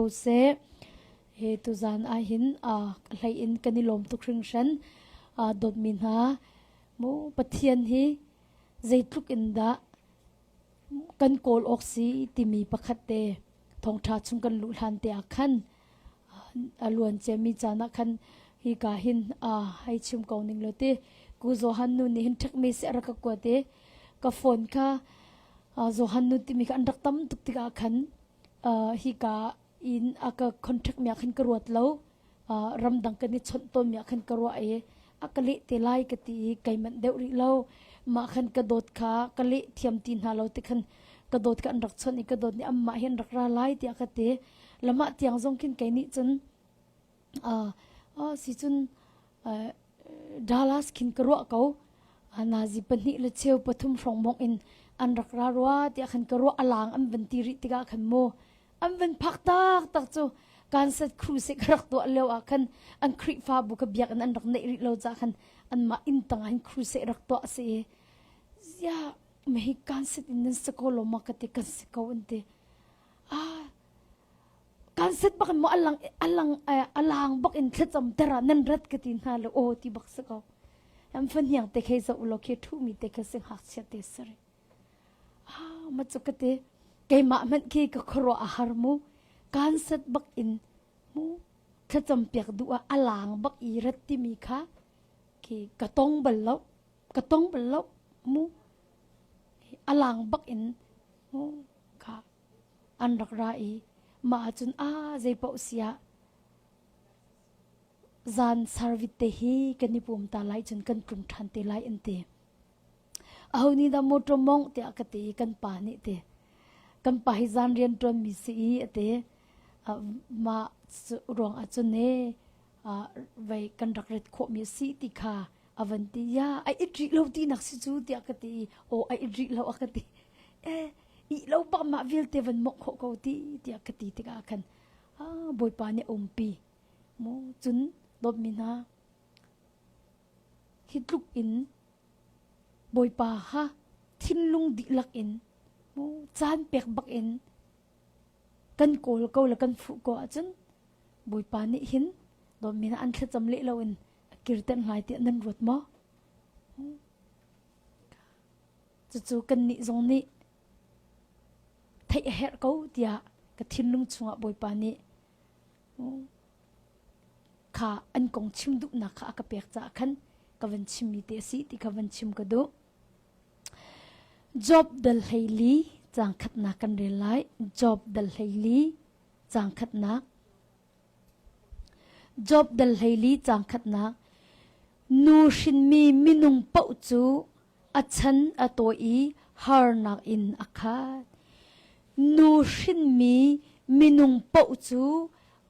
ko seh. Hi tuzan ah hin aa hlei in kan i lawm tuk hringhran. Aa dawtmi hna, mu Pathian hi zeitluk in dah kan kawl awk si timi pakhat te thongtha chung kan luh hlan te ah khan a luan ciami caan ah khan hika hin aa hai chim ko ning law ti ku Johan nu nih hin ṭhekmi si a rak ka kuat i ka phone kha Johan nu timi kha an rak tam tuk tikah khan hika in a ka contract mi ah khan ka ruat lo ramdang kan i chawnh tawn mi ah khan ka ruah i a ka leh te lai ka ti i kai manh deuh rih lo mah khan ka dawt kha ka leh thiam ti hna lo ti khan ka dawt kha an rak chawnh i ka dawt nih anmah hi an rak ra lai tiah ka ti lamah tiang zong khin kei nih cun Ah sicun Dallas khin ka ruah ko. Nazi pahnih le cheu pathum hrawng bong in an rak ra rua tiah khan ka ruah a lang an van ti rih tikah khan mu an van phak tak tak cu kansat crusade ka rak tuah leo ah khan an Krihfa bu ka biak in an rak neih rih lo ca khan an mah inn tang in crusade rak tuah si ya mehi kansat in nan sako lo ma ka ti kan sako an ti ah kan set bak in maw alang alang alang bak in thlacam tera nan rat ka ti hna lo aw ti bak si ko am fan hiang te khe zo lo khi thu mi te khe si hak chia te sari ah ma chu ka te keimah man khi ka khoro a har mu kan set bak in mu thlacam piak du a alang bak i rat ti mi kha ki ka tong bal lo ka tong bal lo mu alang bak in mu ka An rak ra i mah ahcun aa zeipaoh si ah zan sar vit te hi kan i pum ta lai cun kan tlung ṭhan te lai an ti. Aho nih dah mawṭaw mawngh tiah ka ti i kan pa nih ti. Kan pa hi zan rian ṭuanmi si i a ti. mah ruang ahcun e, vei kan rak ret khawhmi a si ti kha A van ti, ya, ai it rih lo ti nak si cu, tiah ka ti. O, ai it rih lo, a ka ti. E, ih lo pa ma vialte van mok khawh ko ti, tiah ka ti tikah khan. Ah, bawipa nih a umpi. Mu, cun, dawt mi hna, hi tluk in bawipa ha thinlung dihlak in mu caan pek bak in kan kawl ko la kan fuh ko ahcun bawipa nih hin dawt mina an thlacam leh lo in a kirtenh lai tiah nan ruat maw? Cucu kannih zong nih theih a herh ko tiah ka thinlung chungah Bawipa nih kha an kong chim duhnak kha a ka pek caah khan ka van chimmi te a si ti kha van chim ka duh. Job dal hleili cang khatnak kan rel lai. Job dal hleili cang khatnak Job dal hleili cangkhatnak nu hrinmi minung paoh cu a chan a tawi i harnak in a khat. Nu hrinmi minung paoh cu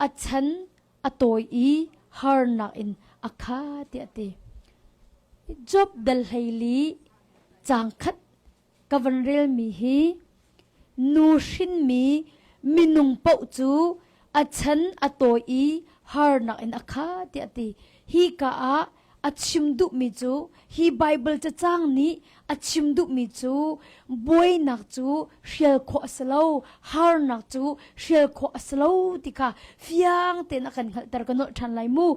a chan a tawi i harnak in a khat tiah a ti. Job dal hleili cangkhat ka van relmi hi nu hrinmi minung paoh cu a chan a tawi i harnak in a kha tiah a ti hi ka ah a chim duhmi cu hi Bible cacang nih a chim duhmi cu buainak cu hrial khawh a si lo harnak cu hrial khawh a si lo ti kha fiang tein a kan hngalhter ka nolh ṭhan lai mu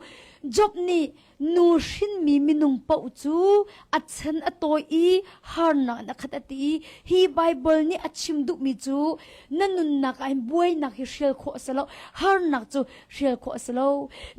Job nih Nu hrinmi minung paoh cu a chan a tawi i harnak in a khat a ti i hi Baibal nih a chim duhmi cu na nunnak ah hin buainak hi hrial khawh a si lo harnak cu hrial khawh a si lo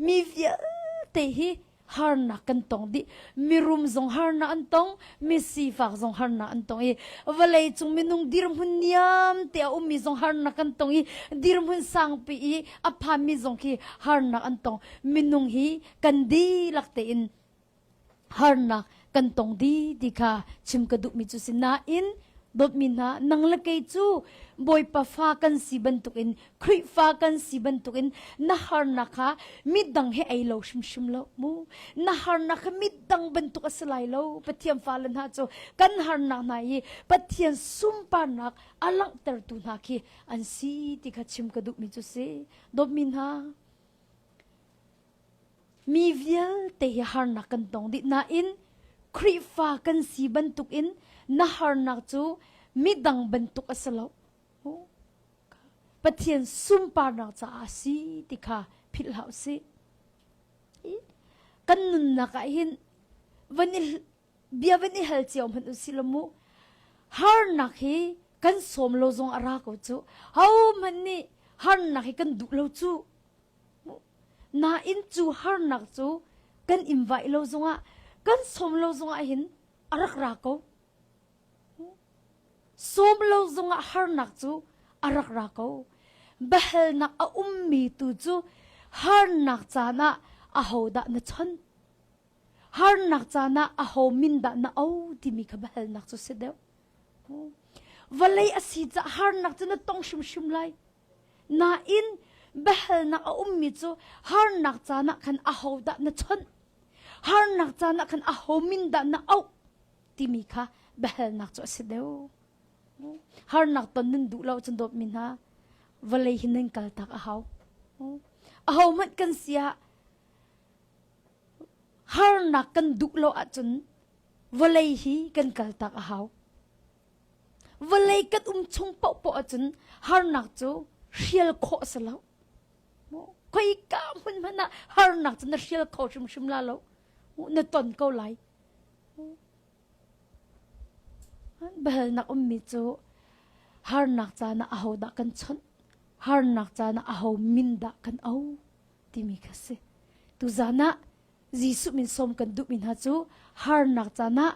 mi vialte hi harnak kan tong dih mirum zong harnak an tong misifak zong harnak an tong i vawlei cung minung dirhmun niam te a ummi zong harnak an tong i dirhmun sangpi i a phanmi zong khi harnak an tong minung hi kan dihlak tein harnak kan tong di ti kha chim ka duhmi cu si nain dawtmi hna nang le kei cu bawipa fa kan si bantukin Khrihfa kan si bantukin na harnak kha midang he ei lo hrimhrim lo mu na harnak kha midang bantuk a si lai lo Pathian fale hna cu kan harnak hna i Pathian sunparnak a langhtertu hna khi an si ti kha chim ka duhmi cu si dawtmi hna Mi vialte hi harnak kan tong dih nain Khrihfa kan si bantukin na harnak cu midang bantuk a si lo. Pathian sunparnak caah a si ti kha philhhlah u sih. Kan nunnak ah hin van i bia van i hal cio hmanh u si lo mu. Harnak hi kan sawm lo zong a ra ko cu. Ho hmanh nih harnak hi kan duh lo cu. Nain cu harnak cu kan in vaih lo zongah, kan sawm lo zongah hin a rak ra ko. Sawm lo zongah harnak cu a rak ra ko. Biahalnak a ummi tu cu harnak caan ah ahodah na chon? Harnak caan ah aho min dah na o timi kha biahalnak cu si deuh. Vawlei a si caah harnak cu na tong hrimhrim lai. Nain biahalnak a ummi cu harnak caan ah khan ahodah na chawnh? Harnak caan ah khan aho min dah na auh? timi kha biahalnak cu a si deuh. Harnak ton nan duh lo cun dawtmi hna vawlei hi nan kaltak a hau. Aho hmanh kan si ah harnak kan duh lo ahcun vawlei hi kan kaltak a hau. vawlei kan um chung paohpaoh ahcun harnak cu hrial khawh a si lo mu koi ka hmun hmanh ah harnak cu na hrial kho hrimhrim la lo mu na ton ko lai behalnak ummi cu harnak caan ah aho dah kan chawnh harnak caan ah aho min dah kan au timi kha si tuzan ah Jesuh min som kan duhmi hna cu harnak caan ah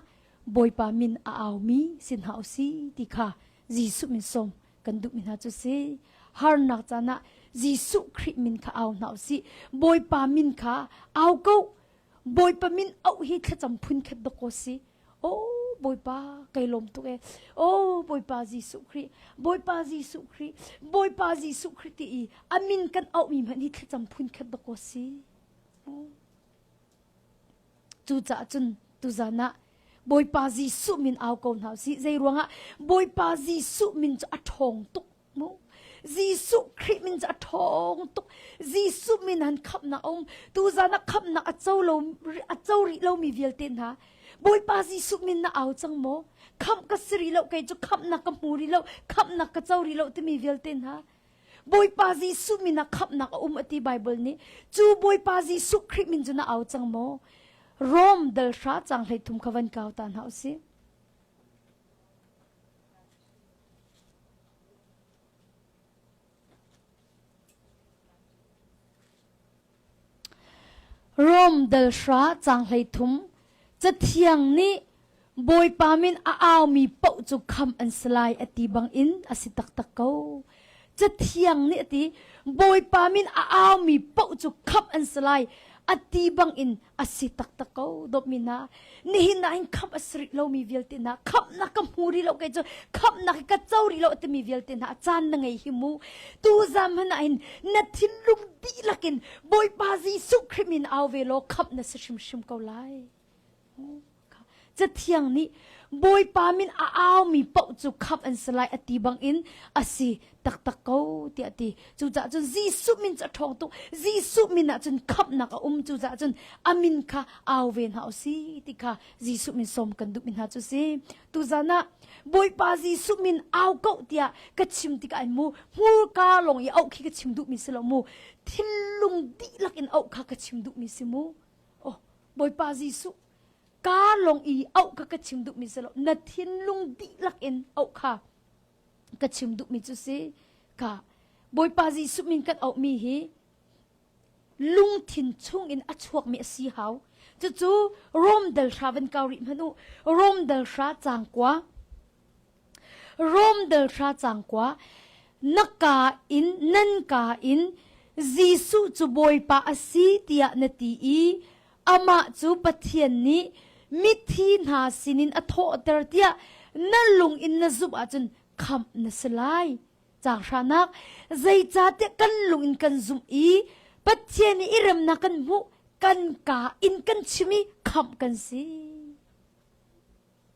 Bawipa min a aumi si hna u si ti kha Jesuh min som kan duhmi hna cu si. Harnak caan ah Jesuh Khrih min kha au hna u si. Bawipa min kha au ko. Bawipa min auh hi thlacam phun khat dok ko si. Oh Bawipa kai lawm tuk e. Oh Bawipa Jesuh Khrih, Bawipa Jesuh Khrih, Bawipa Jesuh Khrih ti i a min kan auhmi hmanh hi thlacam phun khat dok ko si. Cucaah cun tuzan ah Bawipa Jesuh min au ko hna sih. Zei ruangah Bawipa Jesuh min cu a ṭhawng tuk mu. Jesuh Khrih min cu a ṭhawng tuk. Jesuh min han khamnak a um. Tuzan ah khamnak a co lo a co rih lomi vialte hna Bawipa Jesuh min na au cang maw? Khamh ka si rih lo kei cu khamhnak ka hmu rih lo, khamhnak ka co rih lo timi vialte hna Bawipa Jesuh min ah khamhnak a um a ti Bible nih cu Bawipa Jesuh Khrih min cu na au cang maw Rom dal hra cang hlei thum kha van kau ta hna usih Rom dalhra caang hleithum Cathiang nih Bawipa min a aumi paoh cu khamh an si lai a ti bangin a si taktak ko. Cathiang nih a ti, Bawipa min a aumi paoh cu khamh an si lai a ti bangin a si taktak ko dawpmi hna nihin ah in khamh a si rih lomi vialte hna khamhnak ka hmu rih lo kei cu khamhnak ka co rih lo a timi vialte hna a caan na ngei hi mu tu zam hna in na thinlung dihlak in Bawipa Jesuh Khrih min au ve law khamh na si hrimhrim ko lai Cathiang nih Bawipa min a aumi paoh cu khamh an si lai a ti bangin a si taktak ko tiah a ti. Cucaah cun Jesuh min cu a ṭhawng tuk. Jesuh min ah cun khamhnak a um. Cucaah cun a min kha au ve hna u si ti kha Jesuh min sawm kan duhmi hna cu si. Tuzan ah Bawipa Jesuh min au ko tiah ka chim tikah ai mu. Hmurka lawng i auh khi ka chim duhmi si lo mu. Thinlung dihlak in auh kha ka chim duhmi si mu. Oh, Bawipa Jesuh car lung i auh kha ka chim duhmi si lo na thinlung dihlak in auh kha ka chim duhmi cu si ka bawipa jesuh min kan auhmi hi lungthin chungin a chuakmi a si hau cucu rom dal hra van kau rih hmanu rom dal hra cangkua Rom delhra cangkua na ka in nan ka in Jesuh cu Bawipa a si tiah na ti i amah cu Pathian nih mithi hna sinin a thawhter tiah na lung in na zumh ahcun khamh na si lai. Caang hranak zeicahtiah kan lung in kan zumh i Pathian i i remnak kan hmuh kan ka in kan chim i khamh kan si.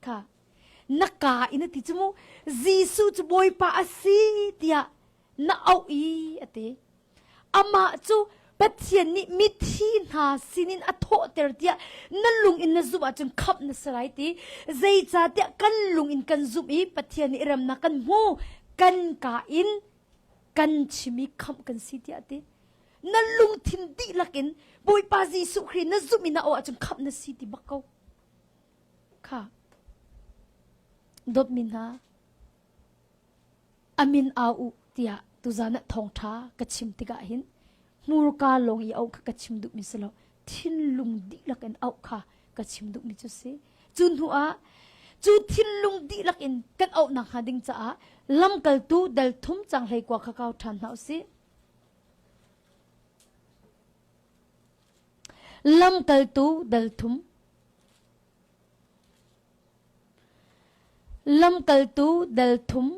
kha na ka in a ti cu mu Jesuh cu Bawipa a si tiah na auh i a ti amah cu Pathian nih mithi hna sinin a thawhter tiah na lung in na zumh ahcun khamh na si lai ti zeicahtiah kan lung in kan zumh i Pathian nih remnak kan hmu kan ka in kan chim i khamh kan si tiah ti na lungthin dihlak in Bawipa Jesuh Khrih na zumh i na auh ahcun khamh na si ti bak ko Khah! Dawtmi hna, amin au u tiah tuzan ah thawngṭha ka chim tikah hin hmurka lawng i auh kha ka chim duhmi si lo thinlung dihlak in auh kha ka chim duhmi cu si cu hnu ah cu thinlung dihlak in kan auh nakhnga ding caah lamkaltu dal thum cang hlei kua kha kau ṭhan hna u sih lamkaltu dal thum Lamkaltu dal thum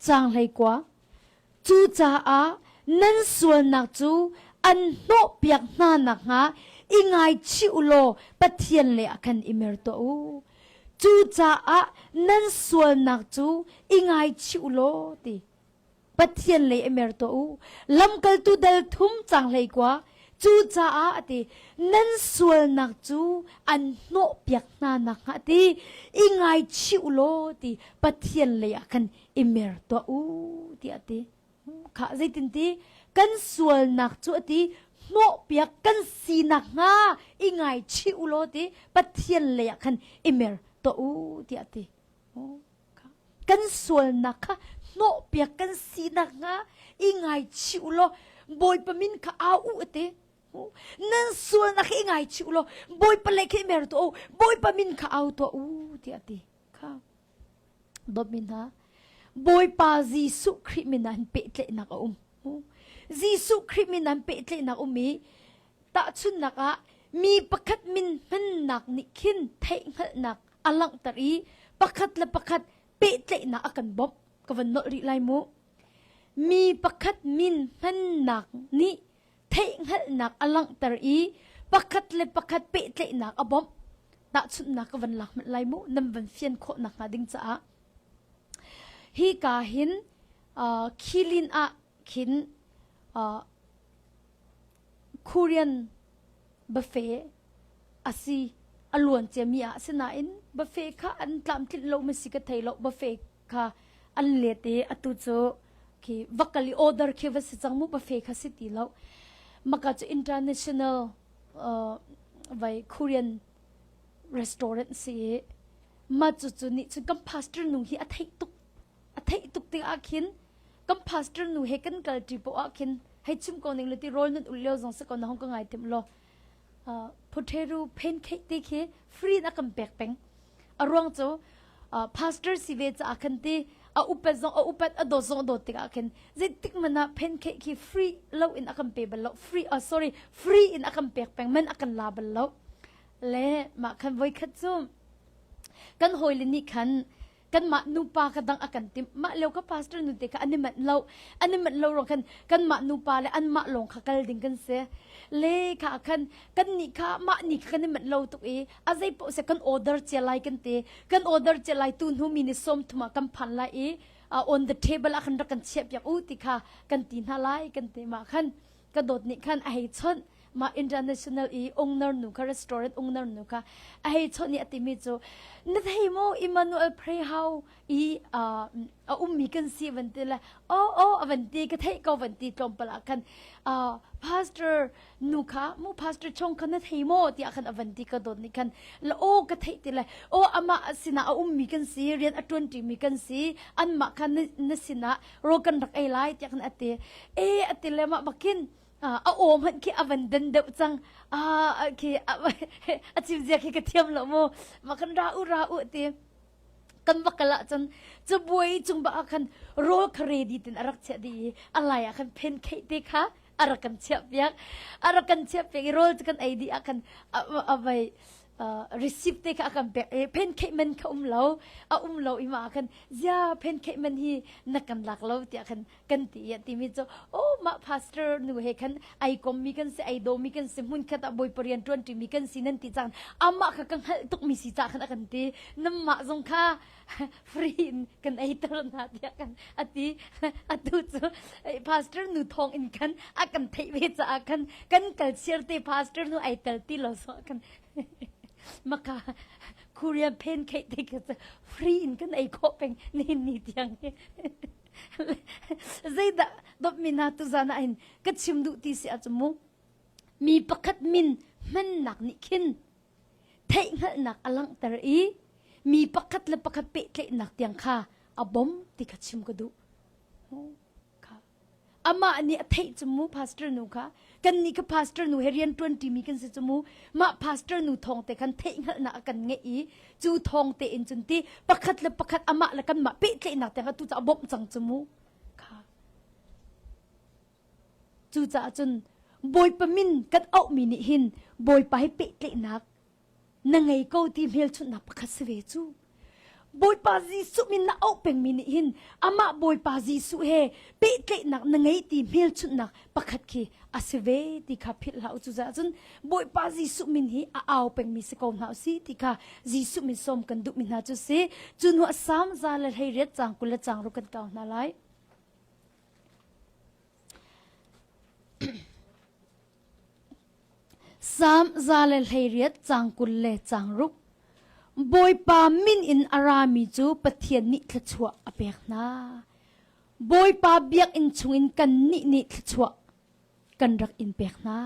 Caang hleikua Cu caah nan sualnak cu an hnawhpiak hna nakhnga i ngaichih u law Pathian le a kan i mer tuah u. Cucaah nan sualnak cu i ngaichih u law ti. Pathian lei a mer tuah u. Lamkaltu dal thum cang hlei kua. Cu caah a ti nan sualnak cu an hnawhpiak hna nakhnga ti i ngaichih u law ti Pathian lei ah khan i mer tuah u tiah a ti. Khah zeitin ti kan sualnak cu a ti hnawhpiak kan si nakhnga i ngaichih u law ti Pathian lei ah khan i mer tuah u tiah a ti. kan sualnak kha hnawhpiak kan si nakhnga i ngaichih u law bawipa min kha au u ati nan sualnak hi i ngaichih u law bawipa le khi mer tu o bawipa min kha au to u ti ati kha dawmi hna bawipa jesuh khrih min an pehtlaihnak a um jesuh khrih min an pehtlaihnak um i tahchunnak ah mi pakhat min hmannak nih khin theihhngalhnak a langhter i pakhat le pakhat pehtlaihnak a kan bawmh ka van nolh rih lai mu mi pakhat min hmannak nih theihhngalhnak a langhter i pakhat le pakhat pehtlaihnak a bawmh tahchunhnak ka van lak hmanh lai mu nan van fian khawh nak hnga ding caah hi ka hin uh, khilin ah khin khurian bafe a si a luan ciami ah asinain bafe kha an tlamtlinh lo mi si ka thei lo bafe kha an let i atu cu khi vakal i order khi va si cang mu bafe kha si ti lo maka chu international vai korean restaurant si ma chu chu ni chu kan pastor nung hi a theih tuk a theih tuk tik ah khin kan pastor nu he kan kal ṭi poh ah khin hei chim ko ning le ti rawl nun ul lio zong si ko na hong ka ngai tim lo phutheru phen khei ti khi free na kan pek peng a ruang cu pastor si ve caah khan ti a upat zong a upat a dawt zong a dawt tik ah khin zeitik man ah phen khei khi free lo in a kan pe bal lo free oh sorry free in a kan pek peng man a kan la bal lo le mah khan voi khat cu kan hawile nih khan kanmah nupa ka dang a kan tim mah leo ka pastor nun te kha an i manh lo an i manh lo ro khan kanmah nupa le an mah lawng kha kal ding kan se le kha khan kan ni kha mah ni kha kan i manh lo tuk i a zei po se kan order che lai kan te kan order che lai tu hnu mi ni som thuma kan phan lai i on the table a khan ra kan chiap yang u ti kha kan ti hna lai kan te ma khan ka dawt nih khan a hei chawnh mah international i ungnar nu kha restaurant ungnar nu kha a hei chawnh i a timi cu na thei mo Emmanuel pray how i a ummi kan si van ti le o o avan ti ka thei ko van ti tlawm pala khan pastor nu kha mu pastor chung kha na thei mo tiah khan avan ti ka dawt ni khan la o ka thei ti le o ama asina a ummi kan si rian a tuanti mi kan si an mah kha na sina ro kan rak ei lai tiah kan ati e ati le ma bakin a om han khi avan dan deuh cang a khi a chim zia khi ka thiam lo mu ma kan ra u ra u ti kan bakala cun cu buai cung ba khan roll kha ready tin arak che di alai a khan pen khei te kha arakan chiap piak arakan chiap piak i roll kan ei di akan avai receipt te kha a kan pek e pancake man kha um lo a um lo i ma khan zia pancake man hi na kan lak lo tiah khan kan ti ya ti mi chu oh ma pastor nu he khan ai kom mi kan si ai do mi kan si mun khat a boi parian tuan ti mi kan si nan ti chan ama kha ka hngal tuk mi si ta khan a kan ti nam ma zong kha free in kan ei ter hna tiah kan ati atu cu pastor nu thong in khan a kan theih ve caah khan kan kal chiar te pastor nu ai tel ti lo so kan maka korea pen khei te ka ca free in kan ei kho peng ni ni tiang he zeida dop mina tu zana ain ka chim du ti si achumu mi pakhat min man nak ni khin theihhngalhnak a langhter i mi pakhat le pakhat pehtlaihnak tiang kha a bom ti kha chim ka duh. amah nih a theih cu mu pastor nu kha kan nih ka pastor nu he rian ṭuan ṭimi kan si cu mu mah pastor nu thawng te khan theihhngalhnak a kan ngeih i cu thawng te in cun ti pakhat le pakhat amah le kanmah pehtlaihnak tiang a tu cu a bawmh cang cu mu Cucaah cun Bawipa min kan auhmi nih hin Bawipa he pehtlaihnak na ngei ko ti hmelchunhnak pakhat si ve cu. Bawipa Jesuh min na auh pengmi nih hin amah Bawipa Jesuh he pehtlaihnak na ngei ti hmelchunhnak pakhat khi a si ve ti kha philh hlah u. Cucaah cun Bawipa Jesuh min hi a au pengmi si ko hna u si ti kha Jesuh min sawm kan duhmi hna cu si. Cu hnuah Salm za le hleiriat cang kul le changruk kan kau hna lai. Sam za le hleiriat cang kul le cang ruk. Bawipa min in a rami cu Pathian nih thluachuah a pek hna. Bawipa biakinn chungin kan nih nih thluachuah kan rak in pek hna.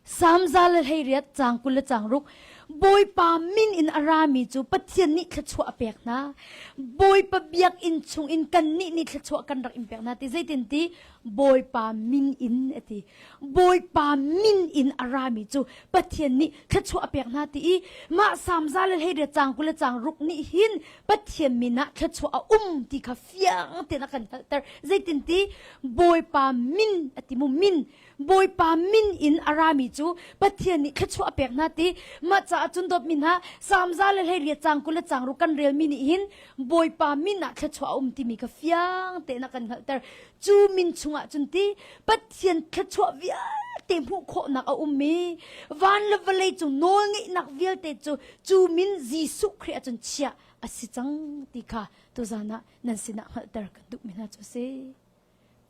Samza le hleiriat cang kul le cang ruk Bawipa min in a rami cu Pathian nih thluachuah a pek hna. Bawipa biakinn chung in kannih nih thluachuah kan rak in pek hna ti zeitin ti Bawipa min in a ti. Bawipa min in a rami cu Pathian nih thluachuah a pek hna ti i mah samza le hleiriat cang kul le cang ruk nih hin Pathian min ah thluachuah a um ti kha fiang tein a kan hngalhter zeitinti bawipa min a ti mu min bawipa min in a rami cu pathian nih thluachuah a pek hna ti mah caah cun dawt min ha samza le hlei ria cang kul le cang ru kan relmi nih hin bawipa min ah thluachuah a um timi ka fiang tein a kan hngalhter cu min chungah cun ti pathian thluachuah vialte hmuh khawhnak a ummi van le vawlei cu nawl ngeihnak vialte cu cu min Jesuh Khrih ahcun chiah a si cang ti kha Tuzan ah nan sinah hngalhter kan duhmi hna cu si.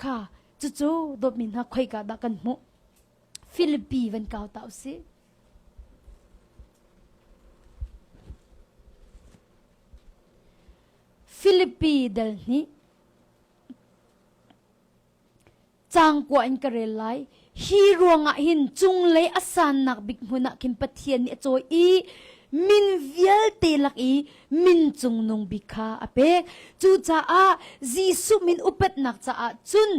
Kha cucu dawtmi hna khoika dah kan hmuh? Philippi van kau ta usih. Philippi dal nih cangkua in ka rel lai hi ruangah hin cunglei a sannak bik hmun ah khin Pathian nih a cawi i min vialte lak i min cungnung bik kha a pek cucaah Jesuh min upatnak caah cun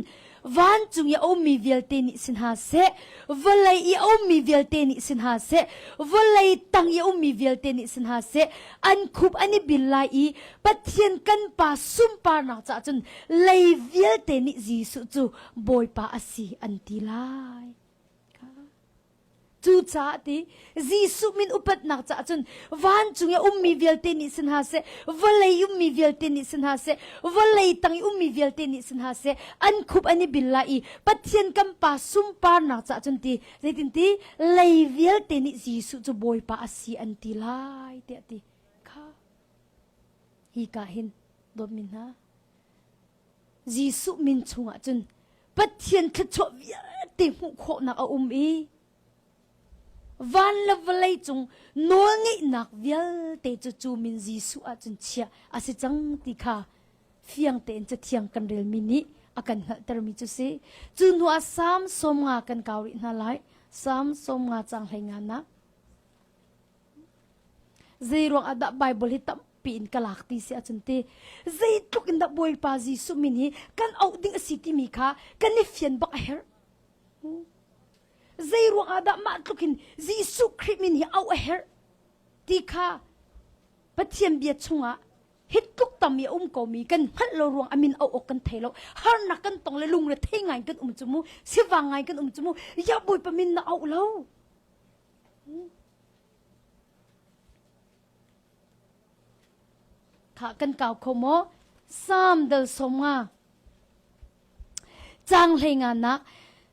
vancung i a ummi vialte nih si hna seh vawlei i a ummi vialte nih si hna seh vawlei tang i a ummi vialte nih si hna seh an khup an i bil lai i Pathian kan pa sunparnak caah cun lei vialte nih Jesuh cu Bawipa a si an ti lai. Cu caah ti Jesuh min upatnak caah cun vancung i ummi vialte nih si hna seh, vawlei ummi vialte nih si hna seh, vawlei tang i ummi vialte nih si hna seh, an khup an i bil lai i Pathian kan Pa sunparnak caah cun ti Zeitinti lei vialte nih Jesuh cu Bawipa a si an ti lai tiah ti kha hi ka hin dawtmi hna Jesuh min chungah cun Pathian thluachuah vialte hmuh khawhnak a um i van le vawlei cung nawl ngeihnak vialte cu cu min Jesuh ah cun chiah a si cang ti kha fiang tein cathiang kan relmi nih a kan hngalhtermi cu si cu hnu ah sam som nga kan kau rih hna lai sam som nga cang hlei nga nak zei ruang ah dah bible hi tampi in ka lak ti si ahcun ti zei tluk in dah bawipa jesuh min hi kan auh ding a si timi kha kan i fian bak a herh zei ruang ah dah mah tluk in jesuh khrih min hi auh a herh ti kha Pathian bia chungah hitluk tam i a um komi kan hngalh lo ruang a min auh awk kan thei lo harnak kan tong le lungre thei ngai kan um cu mu sivang ngai kan um cu mu ya bawipa min na auh lo kha kan kau kho maw sam dal som nga Caang hleinanak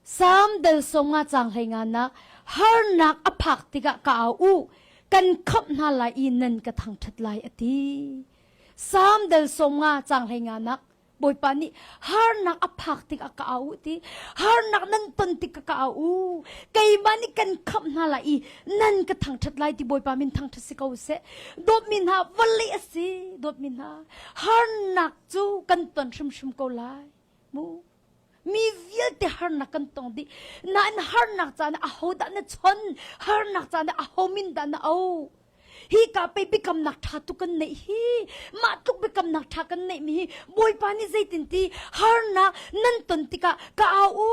Salm dal songa caang hleinanak harnak a phak tikah ka au u kan khamh hna lai i nan ka thangṭhat lai a ti. Salm dal songa caang hleinanak Bawipa nih harnak a phak tikah ka au ti harnak nan ton tikah ka au keimah nih kan khamh hna lai i nan ka thangṭhat lai ti Bawipa min thangṭhat si ko seh dawtmi hna vali a si dawtmi hna harnak cu kan ton hrimhrim ko lai mu mi vialte harnak kan tong dih nain harnak caan aho dah na chon harnak caan aho min dah na o hi ka pe bikamnak tha tu kan nei hi ma tluk bikamnak tha kan nei mi hi bawipa ni zeitin ti harnak nan ton tika ka au u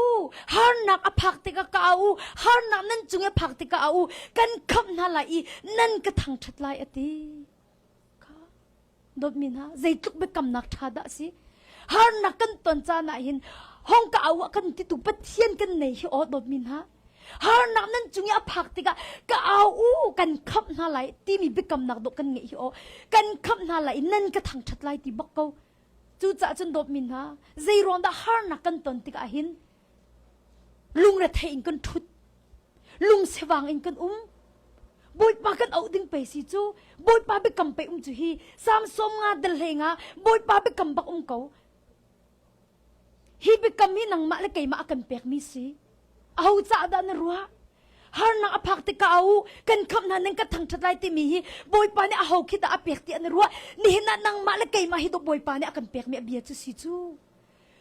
harnak a phak tika ka au u harnak nan cung e phak tika au u kan kham hna lai i nan ka thang that lai ati Kha dawtmi hna, zeitluk biakamnak ṭha dah a si! Harnak kan ton caan ah hin hongka au ah kan titu Pathian kan nei hi aw dawtmi hna. Harnak nan cung i a phak tikah ka au u kan khamh hna lai timi biakamnak dawh kan ngeih hi aw kan khamh hna lai i nan ka thangṭhat lai ti bak ko. Cucaah cun dawtmi hna, zei ruang dah harnak kan ton tikah hin Lungrethei in kan ṭhut. Lungsevang in kan um. Bawipa kan auh ding pe si cu. Bawipa biakam pe um cu hi Samson nga dal nga Bawipa biakam bak um ko. Hi biakam hi nangmah le keimah a kan pek mi si. Aho caah dah na ruah? harnak a phak tika u kan kham hna ning ka thang that lai ti mi hi boipa ni a ho khi da a pek ti an ruah ni hin nangmah le keimah hi to boipa ni a kan pek mi a bia chu si chu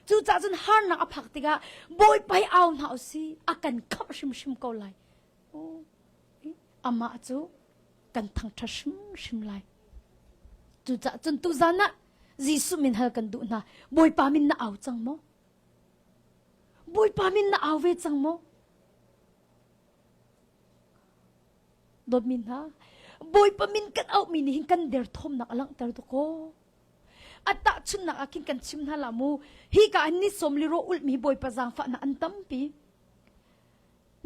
Cucaah cun harnak a phak tikah Bawipa hi au hna u si a kan khamh hrimhrim ko lai. Oh, amah cu kan thangṭhat hrimhrim lai. Cucaah cun tuzan ah Jesuh min hal kan duh hna. Bawipa min na au cang maw? Bawipa min na au ve cang maw? Dawtmi hna, Bawipa min kan auhmi nih hin kan derthawmnak a langhter tuk kaw, A tahchunnak ah khin kan chim hna la mu hika an ni som liro ulmi bawipa zaangfahnak an tampi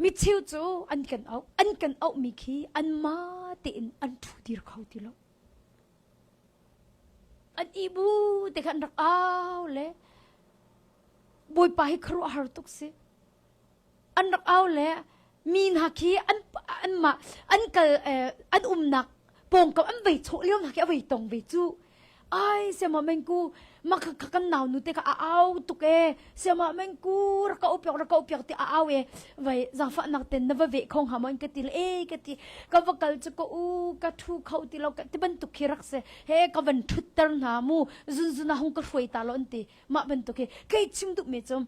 micheu cu an kan auh an kan auh mi khi an ma tein an thu dir kho ti lo an ibu te khan rak au le bawipa hi kharu har tuk si an rak au le mi hna khi an an mah an kal an umnak pawngkam an vei chawh lio hna khi a vei tong ve cu ai siama mengku mak kan nau nu te ka a au tuk e siama mengku ra ka upiak ra ka upiak ti a au e vai zafa nak ten na va ve khong ha mon ka ti e ka ti ka va kal chu ko u ka thu kho ti lo ka ti bantuk khi rak se he ka van thutter na mu zun zuna hong ka hruai ta lon ti ma bantuk khi kai chim dup me chom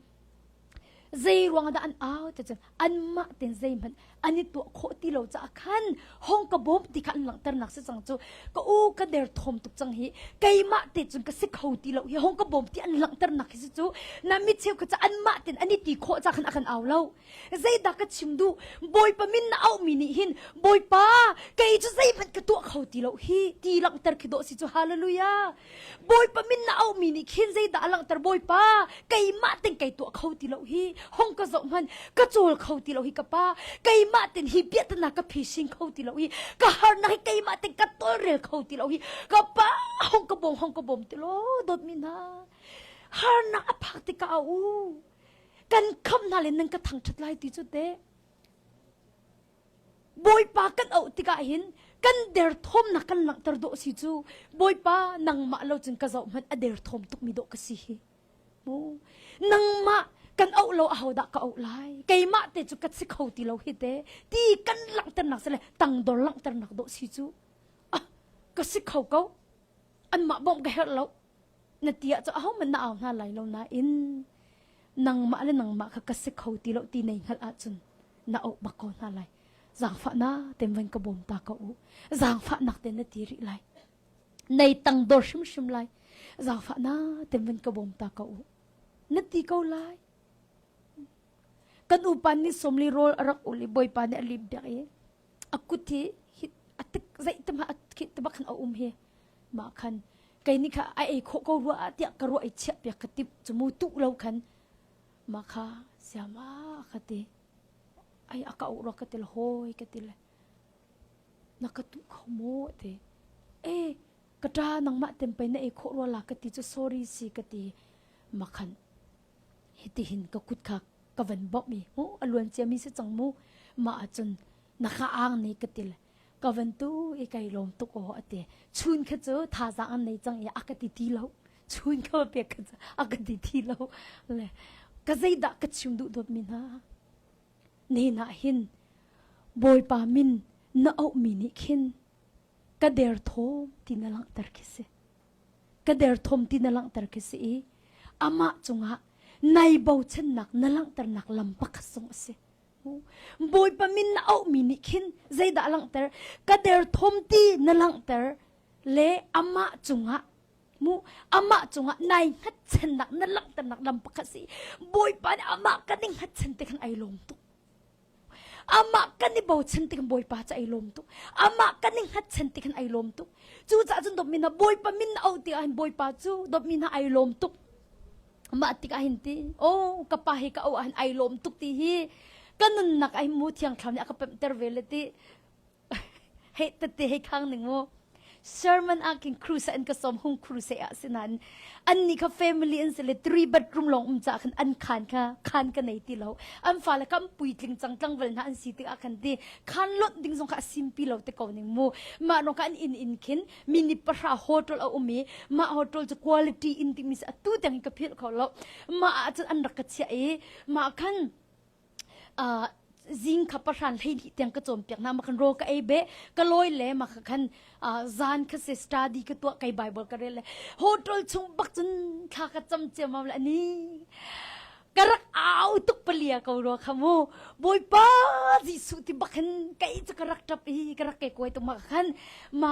Zeiruang dah an au cacun anmah ten zeihmanh an i tuah khawh ti lo caah khan hong ka bawm ti kha an langhternak si cang cu ka u ka der thawm tuk cang hi keimah te cun ka si kho ti lo hi hong ka bawm ti an langhternak hi si cu na mi cheu kha ca anmah ten an i ti khawh ca khan a kan au lo zeidah ka chim duh bawipa min na auhmi nih hin bawipa kei cu zeihmanh ka tuah kho ti lo hi ti langhter khi dawh si cu hallelujah Bawipa min na aumi nih khin zeidah a langhter Bawipa keimah tin kei tuah kho ti lo hi hong ka zoh hman ka cawl kho ti lo hi ka pa keimah tin hi biatanak ka phising kho ti lo hi ka harnak hi keimah tin ka tolrel kho ti lo hi ka pa hong ka bawm hong ka bawm ti lo dawt mi na harnak a phak ti ka a u kan kham hna le nan ka thang ṭhat lai ti cu te Bawipa kan auh tikah hin kan derthawmnak kan langhter dawh si cu Bawipa nangmah lo cun ka zoh hmanh a derthawm tukmi dawh ka si hi mu nangmah kan auh lo ahodah ka auh lai keimah te cu ka si kho ti lo hi te ti kan langhternak sile tangdor langhternak dawh si cu ah ka si kho ko anmah bawm ka herh lo na ti ah cu ahohmanh na au hna lai lo nain nangmah le nangmah kha ka si kho ti lo ti nei hngalh ahcun na auh bak ko hna lai zaangfahna ten vain ka bawm ta ka u zaangfahnak ten na ti rih lai nei tang dor hrimhrim lai zaangfahna ten vain ka bawm ta ka u na ti ko lai kan upan ni somli rol a rak ul i bawipa nih a lip dek i a kut hi a tik zei tima a khit tama khan a um hi ma khan kei ni kha a ei kho ko rua a tiah ka ruah i chiah piak ka tip chu mu tu lo khan ma kha siama ka ti ai aka u ro ka til hoi ka til na ka tu kho mo te e ka tra nang ma tem pe na ei kho ro la ka ti chu sorry si ka ti ma khan Hitihin ka kut kha ka van bawmh i mu a luan ciami si cang mu mah ahcun na kha ang ni ka til ka van tu i kai lawm tuk aw a ti chun kha cu thazaang an nei cang i a ka ti ti lo chun kha pek kha cu a ka ti ti lo le ka zeidah ka chim duh dawtmi hna nenah hin bawipa min na auhmi nih khin ka der thawm ti na langhter khi si ka derthawm ti na langhter khi si i amah cungah nai bochannak na langhternak lam pakhat zong a si. Bawipa min na auhmi nih khin zeidah a langhter? Ka derthawm ti na langhter le amah cungah mu amah cungah nai hngatchannak na langhternak lam pakhat si Bawipa nih amah kan i hngatchan te khan ai lawm tuk. Amah kan i bochan tikhan Bawipa cu ai lawm tuk. Amah kan i hngatchan tikhan ai lawm tuk. Cucaah cun dawtmi hna Bawipa min na auh tikah hin Bawipa cu dawtmi hna ai lawm tuk. Mah tikah hin ti, oh ka pa hi ka auh ah hin ai lawm tuk ti hi ka nunnak ah hin mu thiang thlau nih a ka pemhter ve le ti hei tette hei khang ning mu sermon ah kin crusade an ka som hung crusade ah sinan an ni kha family an se le three bedroom long um cha khan an khan kha khan ka nei ti lo an fa le kam pui tling chang tlang vel na an si ti a kan ti khan lot ding zong kha simpi lo te ko ning mu ma no kan in in khin mini pahra hotel a umi ma hotel chu quality in ti mis atu teng ka phil kho lo ma a chan an rak ka chia e ma khan zing kha pahran hleili tiang ka cawnpiak na ma kan ro ka ei be ka loi le ma ka khan zan kha se study ka tua kai bible ka rel le hotel chung bak cun thla ka cham chem am la ni ka rak au tuk palia ko ro khamu boipa jesu ti bakhin kai chu ka rak tap hi ka rak ke koi tu ma khan ma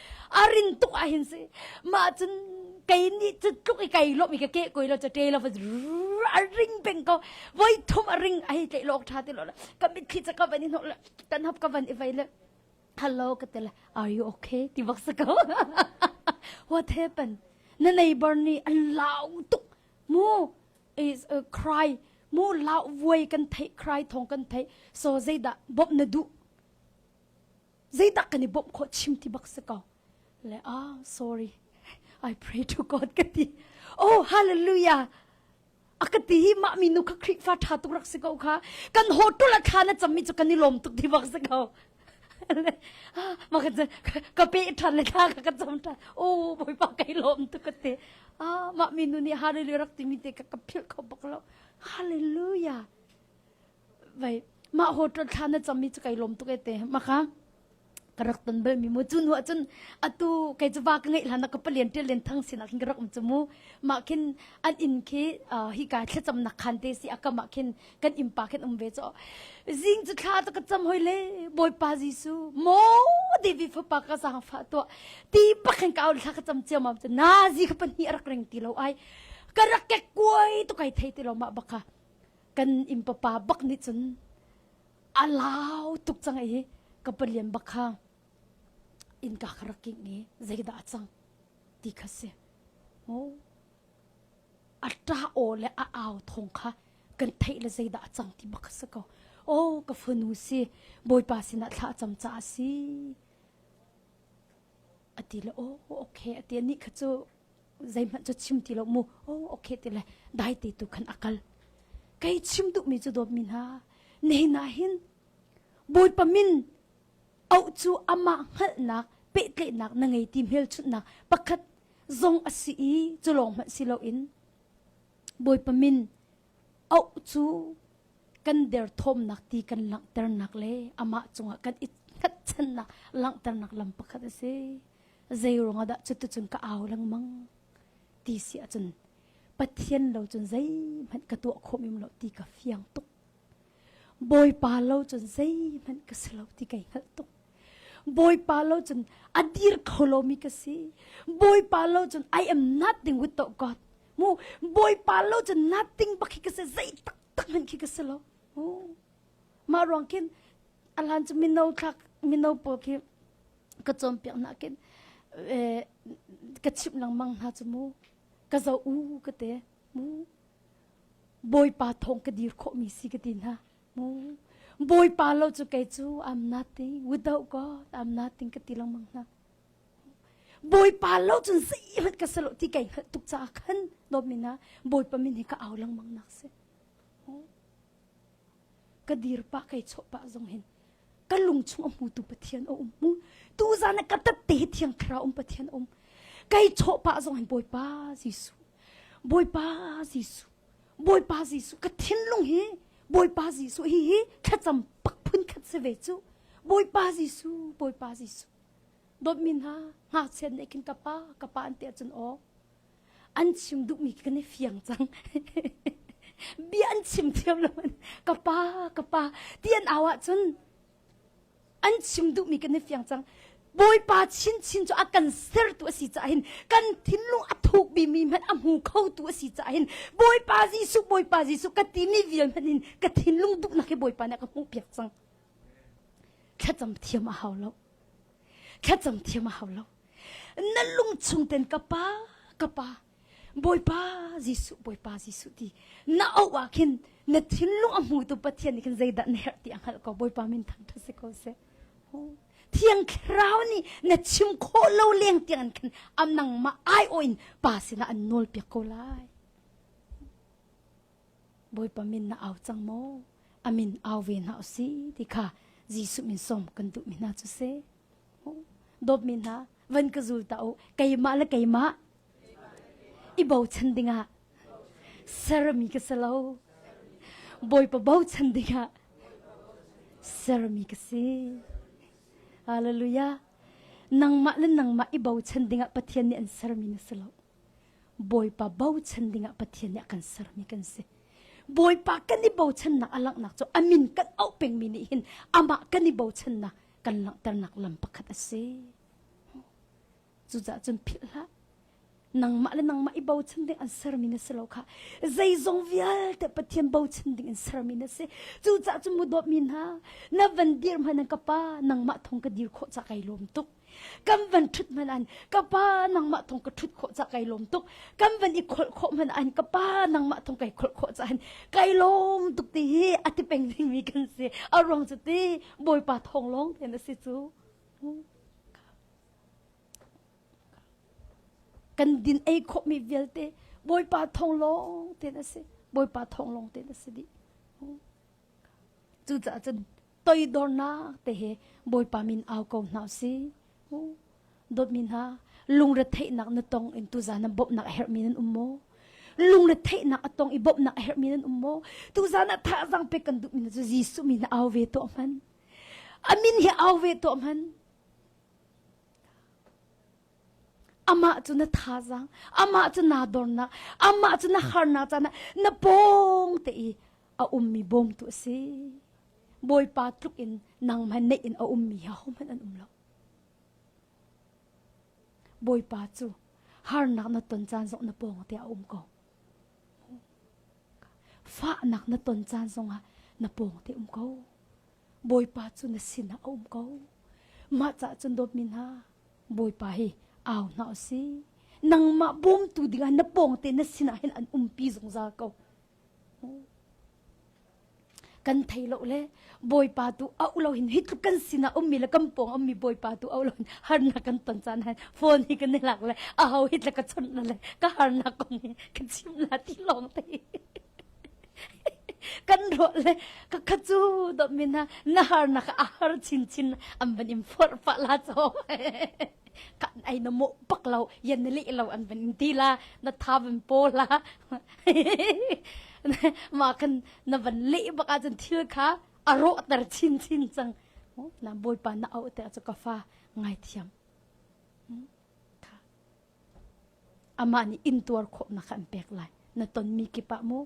a rin tuk ah hin si mah cun kei nih cu tluk i kai lawm i ka ke koi lo ca te lo a ring peng ko voi thum a ring a hi tle lok tha te lo ka mitthli ca ka van i hnok kan hap ka van i vai le hello ka te le are you okay ti bak sa ko what happened na neighbor nih a lau tuk mu is a cry mu lau vuai kan thei cry thong kan thei so zeidah bop na du zeitak kan i bawmh khawh chim ti bak si ko le ah sorry i pray to god ka ti oh hallelujah a ka ti hi mah mi nu kha khrifa tha tu rak si ko kha kan hotel a tha na cham mi chu kan i lom tuk ti bak si ko ma ka ka pe than le tha ka ka cham than oh boi pa kai lom tu ka te ah ma mi nu nih hallelujah rak ti mi te ka ka phil kho bak lo hallelujah Vai mah hotel thla na cham mi chu kai lom tuk ete maka ka rak ton bel mi mu chu nu cun atu kai chu wa ka ngei hlan ka palian tel len thang sin akhin ka rak um chu mu ma khin an in khi hi ka thlacham nak khan te si akama khin kan impa khin um ve cho zing chu thla ta ka cham hoi le boypa jisu mo devi fa pa ka sang fa to ti pakhin ka thla ka cham chiam am chu na zi kha pan hi arak ring ti lo ai ka rak ke koi to kai thei ti lo ma baka kan inn papa bak nih cun a lau tuk cang i ka palian bak kha innka ka rak kingh i zeidah a cang ti kha si oh a ṭa aw le a au thong kha kan theih le zeidah a cang ti bak kha si ko oh ka fanu si bawipa sinah thla cam ca a si a ti le oh okay a ti anih kha cu zeihmanh cu chim ti lo mu oh okay ti le dai te tu khan akal kai chim du mi chu dawt mi hna nei na hin bawipa min au cu ama hngalnak pehtlenak na ngei ti hmel chunnak pakhat zong asi i cu lawng hmanh si lo in bawipa min au cu kan der thomnak ti kan langternak le ama cungah kan i hngatchannak langternak lam pakhat asi zeiruang ah dah cutucun ka au lengmang ti si ahcun Pathian lo cun zeihmanh ka tuah khawm im lo ti ka fiang tuk Bawipa lo cun zeihmanh ka si lo ti kai hngalh tuk Bawipa lo cun a dir kho lomi ka si Bawipa lo cun I am nothing without God mu Bawipa lo cun nothing bak khi ka si zei taktak hman khi ka si lo mu mah ruang khin alan cu mino thlak mino pawl khi ka cawmpiak na kin ka chimh lengmang hna chu mu ka zo u ka te mu bawipa thong ka dir khawh mi si ka ti hna mu bawipa lo chu kei chu I'm nothing without God I'm nothing ka ti lengmang hna bawipa lo chun si hlat ka salo ti kai hlat tuk cha khan no mina bawipa min hi ka au lengmang nak se ka dir pa kai chawh pa zong hin ka lung chung a hmutu pathian a um mu tu zan a ka tatte hi thiang thlarau um pathian um kai chawh pa zong hin bawipa jesu bawipa jesu bawipa jesu ka thinlung hi bawipa jesu hi hi thlacam pak phun khat se ve chu bawipa jesu bawipa jesu dot min ha nga chen ne kin ka pa ka pa an te chun o an chim duhmi kan i fiang cang bia an chim thiam lo ka pa ka pa ti an au ahcun an chim duhmi kan i fiang cang bawipa chinchin cu a kan sertu a si caah hin kan thinlung a thukmi mi hmanh a hmu khotu a si caah hin bawipa jesuh bawipa jesuh ka timi vial hmanh in ka thinlung duhnak hi bawipa nih a ka hmuh piak cang thlacam thiam a hau lo Khetcam thiam a hau lo. Na lung chung ten ka pa, ka pa, Bawipa Jesuh, Bawipa Jesuh ti na auh ah khin na thinlung a hmu tu Pathian nih khin zeidah na herh ti a hngalh ko Bawipa min thangthat si ko seh. Thiang Thlarau nih na chim khawh lo leng tiang an khan am nang ma ai o in pa sinah an nawl piak ko lai. Bawipa min na au cang maw? A min au ve hna u si ti kha Jesuh min sawm kan duhmi hna cu si. Dawtmi hna, van ka zul ta u. Keimah le keimah i bochan dingah sermi ka si lo. Bawipa bochan dingah sermi ka si. Hallelujah. Nangmah le nangmah i bochan dingah Pathian nih an sermi na si lo. Bawipa bochan dingah Pathian nih a kan sermi kan si. Bawipa kan i bochannak a langhnak cu a min kan auh pengmi nih hin amah kan i bochannak kan langhternak lam pakhat a si. Cucaah cun philh hlah. Nangmah le nangmah i bochan ding an sermi na si lo kha zeizong vialte Pathian bochan ding in sermi na si. Cucaah cun mu dawtmi hna, na van dir hmanh ka pa, nangmah thong ka dir khawh cah kai lawm tuk. kan van thut hman an ka pa nangmah thong ka thut khawh cha kai lom tuk kan van i kholh khawh hman an ka pa nangmah thong kai kholh khawh cha an kai lom tuk ti hi ati peng ding mi kan si a ruang cu ti bawipa thong long ten a si cu kan din ei khawh mi vialte bawipa thong long ten a si bawipa thong long ten a si di cu caah cun toidornak te he Bawipa min au ko hna si. Dawtmi hna, lungretheihnak na tong in tu zan bawmhnak a herhmi nan um maw? Lungretheihnak a tong i bawmhnak a herhmi nan um maw? Tu zan a thazang pe kan duhmi na cu Jesuh min na au ve to hman. Amin hi au ve to hman. Amah cu na thazaang, amah cu naa dornak, amah cu na harnak caan ah na pawng te i a ummi bawmtu a si. Bawipa tluk in nangmah neih in a ummi hi hohmanh an um lo. Bawipa cu harnak na ton caan zong na pawng te ah a um ko. Fahnak na ton caan zong ah na pawng te um ko. Bawipa cu na sinah a um ko. Mah cah cun dawtmi hna, Bawipa hi au hna u si. Nangmah bawmtu dingah na pawng te na sinah hin an umpi zungzal ko. Kan thei lo le Bawipa tu a ulo hin hi tluk kan sinah ummi le kan pawng ummi Bawipa tu a ulo hin harnak kan ton caan hen phone hi kan i lak le a ho hi tla ka chawnh le ka harnak kong hi ka chim la ti lawng te. kan ro le ka kha chu do min ha na har na ka har chin chin an ban in for fa la cho kan ai no mo pak lo yan li lo an ban in ti la na tha ban po la ma kan na ban le baka chen thil kha aro tar chin chin chang na boy pa na au te ka fa ngai thiam Amah nih inntuar khawhnak an pek lai. Na tonmi kip ah mu.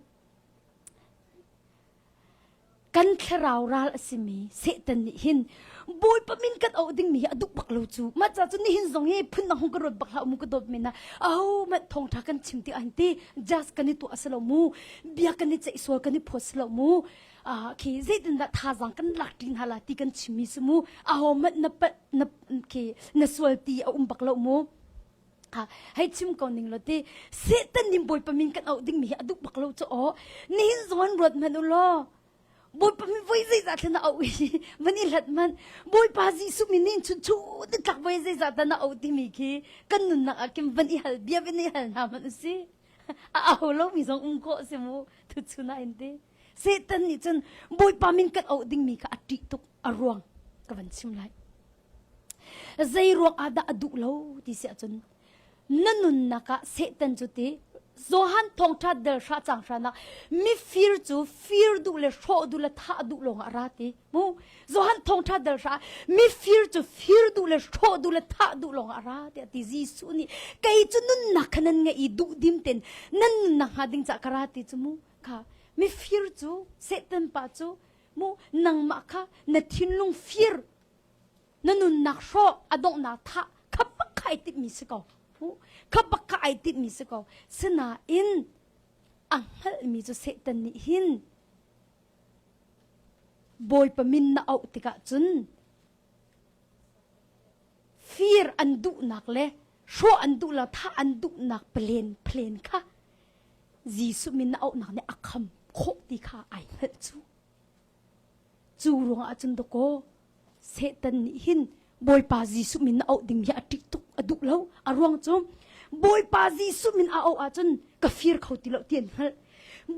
Kan thlarau ral a simi Satan nih hin Bawipa min kan auh dingmi hi a duh bak lo cu. Mah ca cu nihin zong hi phun na hong ka ruat bak hlah mu ka dawt men na. Au mat thongtha kan chim ti an ti. Jas kan i tuah a si lo mu. Bia kan i ceih sual kan i phawt si lo mu. khi zeitindah thazang kan lak ṭi hna la ti kan chimmi si mu ahohmanh na pat na khi na sual ti a um bak lo mu ha hei chim ko ning lo ti setan nim bawipa min kan auh ding mi hi a duh bak lo chu aw nihin zuan ruat man u law bawipa min voi zeizah thlen auh hi van i hlat man bawipa jesuh min nin chun chu ti tlak voi zeizah ta na auh ti mi khi kan nunnak ah kim van i hal bia in i hal na man u si a au lo mi zong um ko se mu thu chuna in ti Satan nih cun Bawipa min kan auh dingmi kha a ṭih tuk a ruang ka van chim lai. Zei ruang ah dah a duh lo ti si ahcun na nunnak ah Satan cu ti Johan thawngṭha del hra cang hranak mifir cu fir duh le hrawh duh le thah duh lawng ah ra ti mu Johan thawngṭha del hra mifir cu fir duh le hrawh duh le thah duh lawng ah ra tiah ti Jesuh nih kei cu nunnak kha nan ngeih i duh dim ten nan nunnak hnga ding cah ka ra ti cu mu kha mifir cu Satan pa cu mu nangmah kha na thinlung fir na nunnak hrawh a donghnak tha kha baka ai tip mi si ko kha baka ai tip mi si ko sinain a hngalh mi cu Satan nih hin Bawipa min na auh tikah cun fir an duhnak le hrawh an duh lo thah an duhnak plen plen kha Jesuh min na auhnak nih a kham khawh ti kha ai hngalh cu cu ruangah cun dakaw Satan nih hin Bawipa Jesuh min na auh ding hi a ṭih tuk a duh lo a ruang cu Bawipa Jesuh min a auh ahcun ka fir kho ti lo ti an hngalh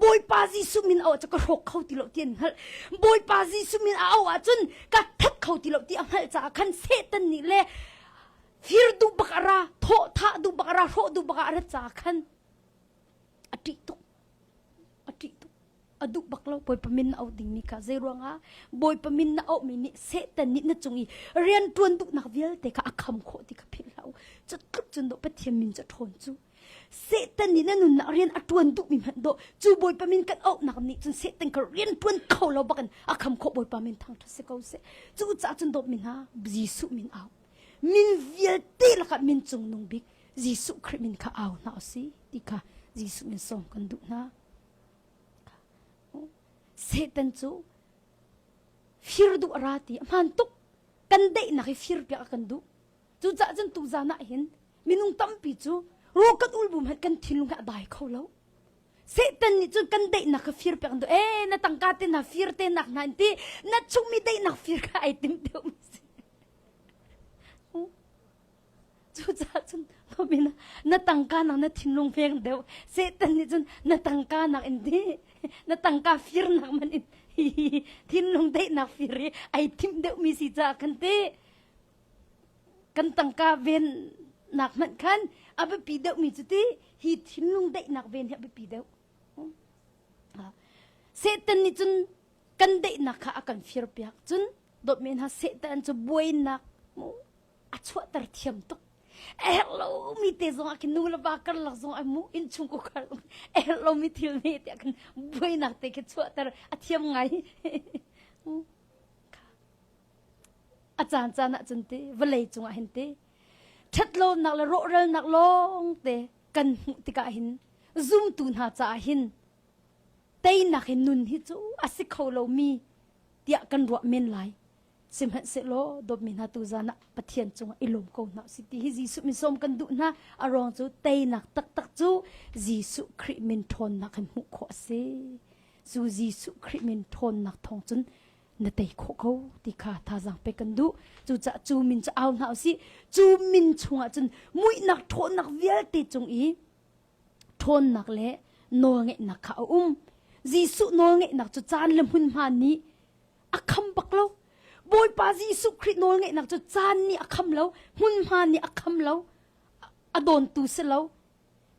Bawipa Jesuh min auh ahcun ka hrawk kho ti lo ti an hngalh Bawipa Jesuh min a auh ahcun ka that kho ti lo ti a hngalh caah khan Satan nih le Fir du bak a ra, thawhtha du bak a ra, hrawh du bak ah a ra ca khan a ṭih tuk. A ṭih tuk. A duh bak lo Bawipa min na auh ding ni ka zei ruangah Bawipa min na auhmi nih Satan nih na cung i rian ṭuan duhnak vialte kha a kham khawh ti kha philh hlah u. Cu tluk cun dawh Pathian min cu ṭhawn cu. Satan nih na nunnak rian a ṭuan duhmi hmanh dawh cu Bawipa min kan auhnak nih cun Satan ka rian ṭuan kho lo bak in a kham khawh Bawipa min thang ṭha si ko seh. Cu caah cun dawt mi hna, Jesuh min au. min vialte lakah min cungnung bik Jesuh Khrih min kha au hna u si ti kha Jesuh in sawm kan duh hna. Satan cu fir duh a ra ti hmaan tuk kan daihnak hi fir piak a kan duh. Cucaah cun tu zan ah hin minung tampi cu rukat ulbum han kan thinlung he a dai kho lo. Satan nih cun kan daihnak kha fir piak an duh. Eh, na tangka te na fir te nak na in ti na chungmi daihnak fir kha ai tim te um si. Cucaah cun Robin na tangka nak na thinlung veng deuh Satan nih cun na tangka nak in di na tangka fir nak man in thinlung deihnak fir i ai thim deuh mi si caah kan ti kan tangka ven nak hmanh khan a biapi deuh mi cu ti hi thinlung deihnak ven hi a biapi deuh Satan nih cun kan deihnak kha a kan fir piak cun dawt men ha Satan cu buainak a chuahter thiam tuk a herh lo mi te zong ah kin nu le va kar lak zong ai mu in chung ku kar a herh lo mi thil ne te kan buainak te ke chuahter a thiam ngai a caan caan ah cun te vale cung ah hin te ṭhat lonak le rawhralnak lawng te kan hmuh tikah hin zumtu hna caah hin teinak in nun hi cu a si kho lo mi tiah kan ruah men lai sihmanhsehlaw dawtmi hna tu zan ah pathian cungah i lawm ko hna usih ti hi jesuh min sawm kan duh hna a ruang cu teinak taktak cu jesuh khrih min ṭhawnnak in hmuh khawh a si cu jesuh khrih min ṭhawnnak thawng cun na tei khawh ko ti kha thazaang pe kan duh cucaah cu min cu au hna usih cu min chungah cun muihnak ṭhawnnak vialte cung i Ṭhawnnak le nawlngeihnak kha a um. Jesuh nawlngeihnak cu caan le hmunhma nih a kham bak lo. Bawipa Jesuh Khrih nawlngeihnak cu caan nih a kham lo, hmunhma nih a kham lo, a dawntu si lo.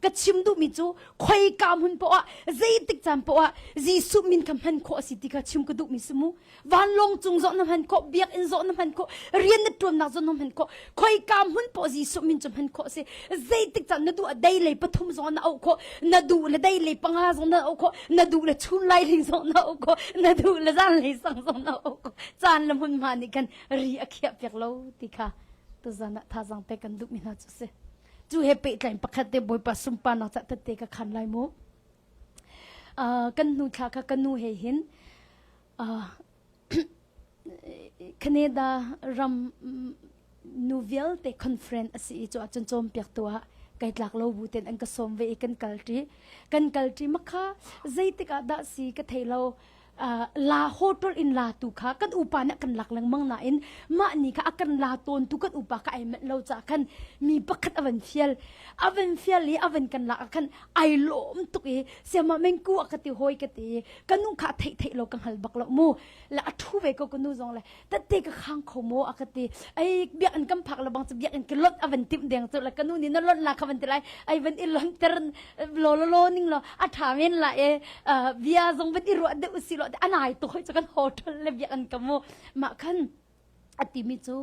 Ka chim duhmi cu khoika hmun paoh ah, zeitik caan paoh ah Jesuh min kha hman khawh a si ti kha chim ka duhmi si mu. vanlong cung zoh na hman ko biak in zoh na hman ko rian na tuannak zoh na hman ko khoika hmun po jesuh min cu hman ko si zeitik can na du a dei lei pathum zong na au ko na du le dei lei panga zong na au ko na du le chun lai ling zong na au ko na du le zan lei sang zong na au ko chan le mun ma nih kan ri a khia pek lo ti kha tu zan tha zang pe kan dup mi hna chu si chu he pe tlain pakhat te boipa sumpa na cha te ka khan lai mu kan hnu thla kha ka nu he hin Canada ram nu vialte conference asi i cun cun cawm piak tu ah kai tlak lo bu ten an ka sawm ve i kan kal ṭi kan kal ṭi makha zeitik ah dah si ka thei lo la hotel in la tu kha kan upa nih kan lak lengmang nain mah ni kha a kan la tawn tu kan upa ka ai mat lo cha khan mi pakhat avan fial avan fial i avan kan lak khan ai lom tuk i siama mengku a ka ti hoi ka ti kanu kha thei thei lo ka hal bak lo mu la a thu ve ko kanu zong le tette ka khang kho mo a ka ti ai biak an kam phak la bang biak in ke lot avan tim deng to la kanu ni na lot la kha van ti lai ai van i lon ter lo lo lo ning lo a tha men la e bia zong van i ro de usi lo anai to hoi kan hotel le biak an kamo ma khan atimi chu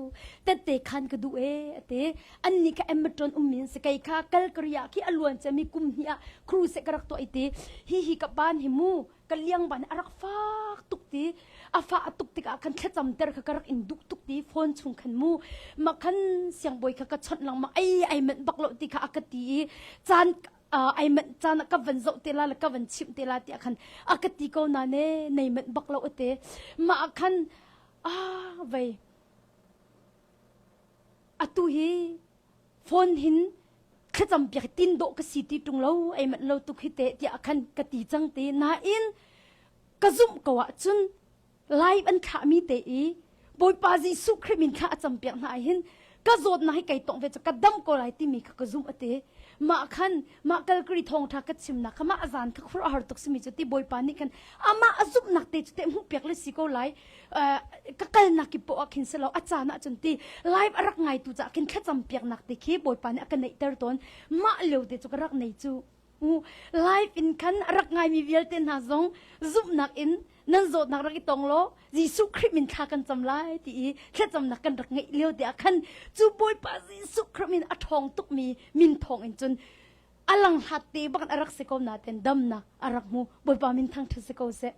tette khan ka du e ate anni ka emmatron umin se kai kha kalkariya ki aluan che mi kum hi a cruise ka rak to ite hi hi ka pan hi mu ka liangban a rak fak tuk ti a fa a tuk tikah kan thlacam ter kha ka rak in duk tuk ti phone chung khan mu ma khan siangbawi kha ka chawnh lang ma ai ai manh bak lo ti kha a ka ti i caan uh, ai manh caan ka van zoh te la la ka van chim te la ti khan a ka ti ko na ne nei manh bak lo ate ma khan a vei atu hi phone hin thlacam piak tin dawh ka si ti tung lo ei manh lo tuk hi te tiah khan ka ti cang te nain ka zumh ko ah cun live an thlah mi te i bawipa jesuh khrih min kha a cam piak hna hin ka zawt na hi kai tong ve chu ka dam ko lai timi kha ka zum ate ma khan ma kalkari thong tha ka chim na kha ma azan kha khur har tuk simi chu ti boipa ni khan ama azuk nak te chu te mu piak le si ko lai ka kalnak ki po ah khin selo a caan ah cun ti live a rak ngai tu ca khin thlacam piaknak te khi bawipa nih a ka neih ter tawn mah leo te cu ka rak nei cu live in khan a rak ngai mi vialte hna zong zumhnak in nan zawtnak rak i tong lo Jesuh Khrih min thla kan cam lai ti i thlacamnak kan rak ngeih lio te ah khan cu bawipa Jesuh Khrih min a thong tuk mi min thong in cun a lang hlat te bak a rak si ko naten damnak a rak hmu bawipa min thang ṭha si ko seh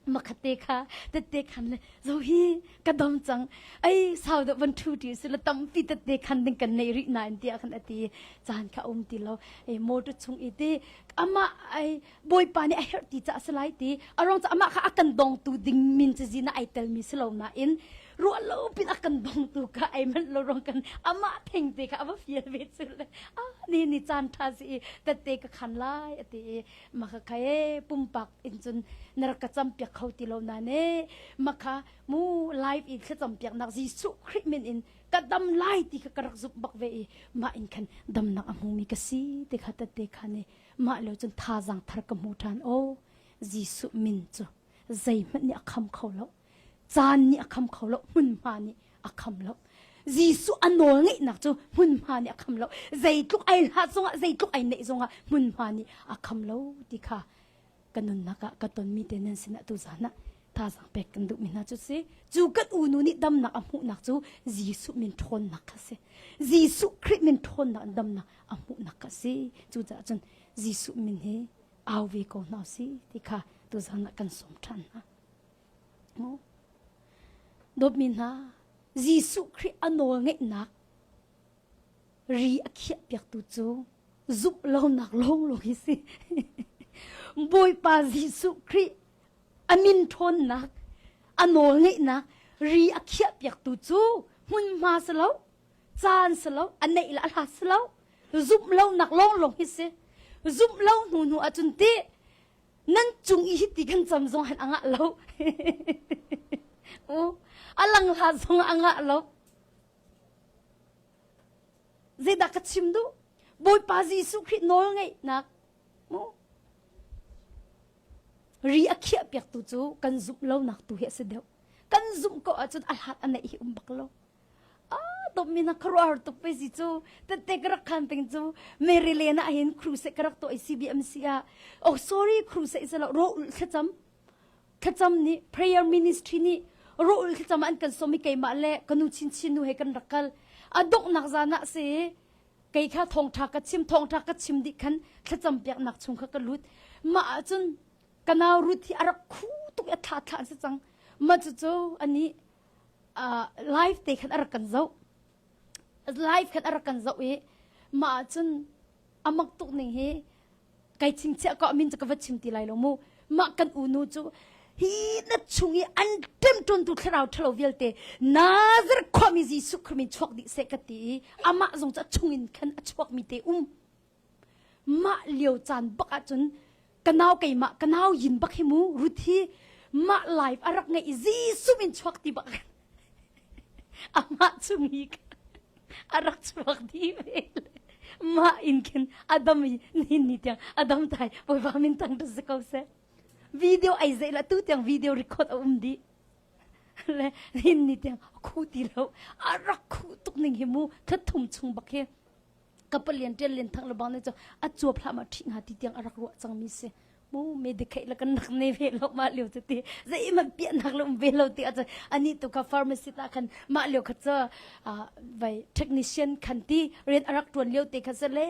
makhat te kha tette khan le zo hi ka dam cang ai sau da van thu ti si la tam pi tette khan ding kan nei ri na in tia khan ati chan kha um ti lo e motor chung ite ama ai Bawipa nih a herh ti ca a si lai ti a rong ca amah kha a kan dongtu ding min cizi na ai telmi si lo nain ruah lo pin a kan dongtu ka ai manh lo rong kan amah theng te kha a va fial ve cu le a ni ni caan tha si i tette ka khan lai a ti i maka kha e pumpak in cun nar ka cham piak kho ti lo na ne maka mu live in thla cham piak nak Jesuh Khrih min in ka dam lai ti ka ka rak zup bak ve i ma in khan dam nak a hmu mi ka si te kha tette kha ne mah lo cun thazang thar ka hmu ṭhan o Jesu min cu zeihmanh nih a kham kho lo caan nih a kham kho lo hmunhma nih a kham lo Jesu a nawl ngeihnak cu hmunhma nih a kham lo zeitluk ai hlat zongah zeitluk ai neih zongah hmunhma nih a kham lo ti kha ka nunnak ah ka tonmi te nan sinah tu zan ah thazang pek kan duhmi hna cu si cu kan unu nih damnak a hmuhnak cu Jesuh min ṭhawnnak kha si Jesuh Khrih min ṭhawnnak damnak a hmuhnak kha si cucaah cun Jesuh min hi au ve ko hna si ti kha tu zan ah kan sawm ṭhan hna dawtmi hna Jesuh Khrih a nawl ngeihnak ri a khiahpiaktu cu zumh lonak lawnglawng hi si. Bawipa Jesuh Khrih a min ṭhawnnak, a nawlngeihnak ri a khiahpiaktu cu hmunhma si lo, caan si lo, a neih le a hlat si lo, zumh lonak lawnglawng hi si. Zumh lo hnu hnu ahcun ti nan cung i hiti kan cam zong han a ngah lo. U, a lang hlah zong a ngah lo. Zeidah ka chim duh? Bawipa Jesuh Khrih nawlngeihnak mu ri a khiah piaktu cu kan zumh lonak tu hi a si deuh. Kan zumh ko ahcun a hlat a neih hi um bak lo. A dommi na kharuar tuk ve si cu. Tette ka rak khan ting cu Maryland ah hin crusade ka rak tuah i CBMC ah. Oh sorry crusade sa lo ro thlacam. Thlacam nih prayer ministry nih rawl thlacam an kan som i keimah le ka nu chinchin nu he kan rak kal. A donghnak zan ah si kei kha thawngṭha ka chim thawngṭha ka chim dih khan thlacam piaknak chung kha ka lut. Mah ahcun ka nau Ruth hi a rak khu tuk i a thla thla an si cang. Mah cucu ani uh, live te khan a rak kan zoh. Live khan a rak kan zoh i mah ahcun a mak tuk ning hi Kai chimchiah ko min cu ka va chim ti lai lo mu. Mah kan unu cu hi na chung i an ṭemṭuntu thlarau ṭhalo vialte Nazar khuami Jesuh Khrist min chuak dih seh ka ti i amah zong cu a chungin khan a chuakmi te um. Mah lio caan bak ahcun ka nau keimah ka nau yin bak hi mu Ruth hi mah live a rak ngeih i Jesuh min chuak ti bak Amah cu mi kha a rak chuak dih ve le mah in khin a dam i nihin ni tiang a dam thai voiva min tang ra si ko seh video ai zei la tu tiang video record a um dih le nihin ni tiang khu ti lo a rak khu tuk ning hi mu thla thum chung bak hi ka palian ṭian lian thang lebang ne cu a cuap hlah ma ṭhi hnga ti tiang a rak ruah cangmi si mu me dekheih la kan nak ne ve lo ma liu te ti zei man pia nak le um ve lo ti acha ani tu ka pharmacy ta khan ma liu kha cha vai technician khan ti ren arak tuan liu te kha se le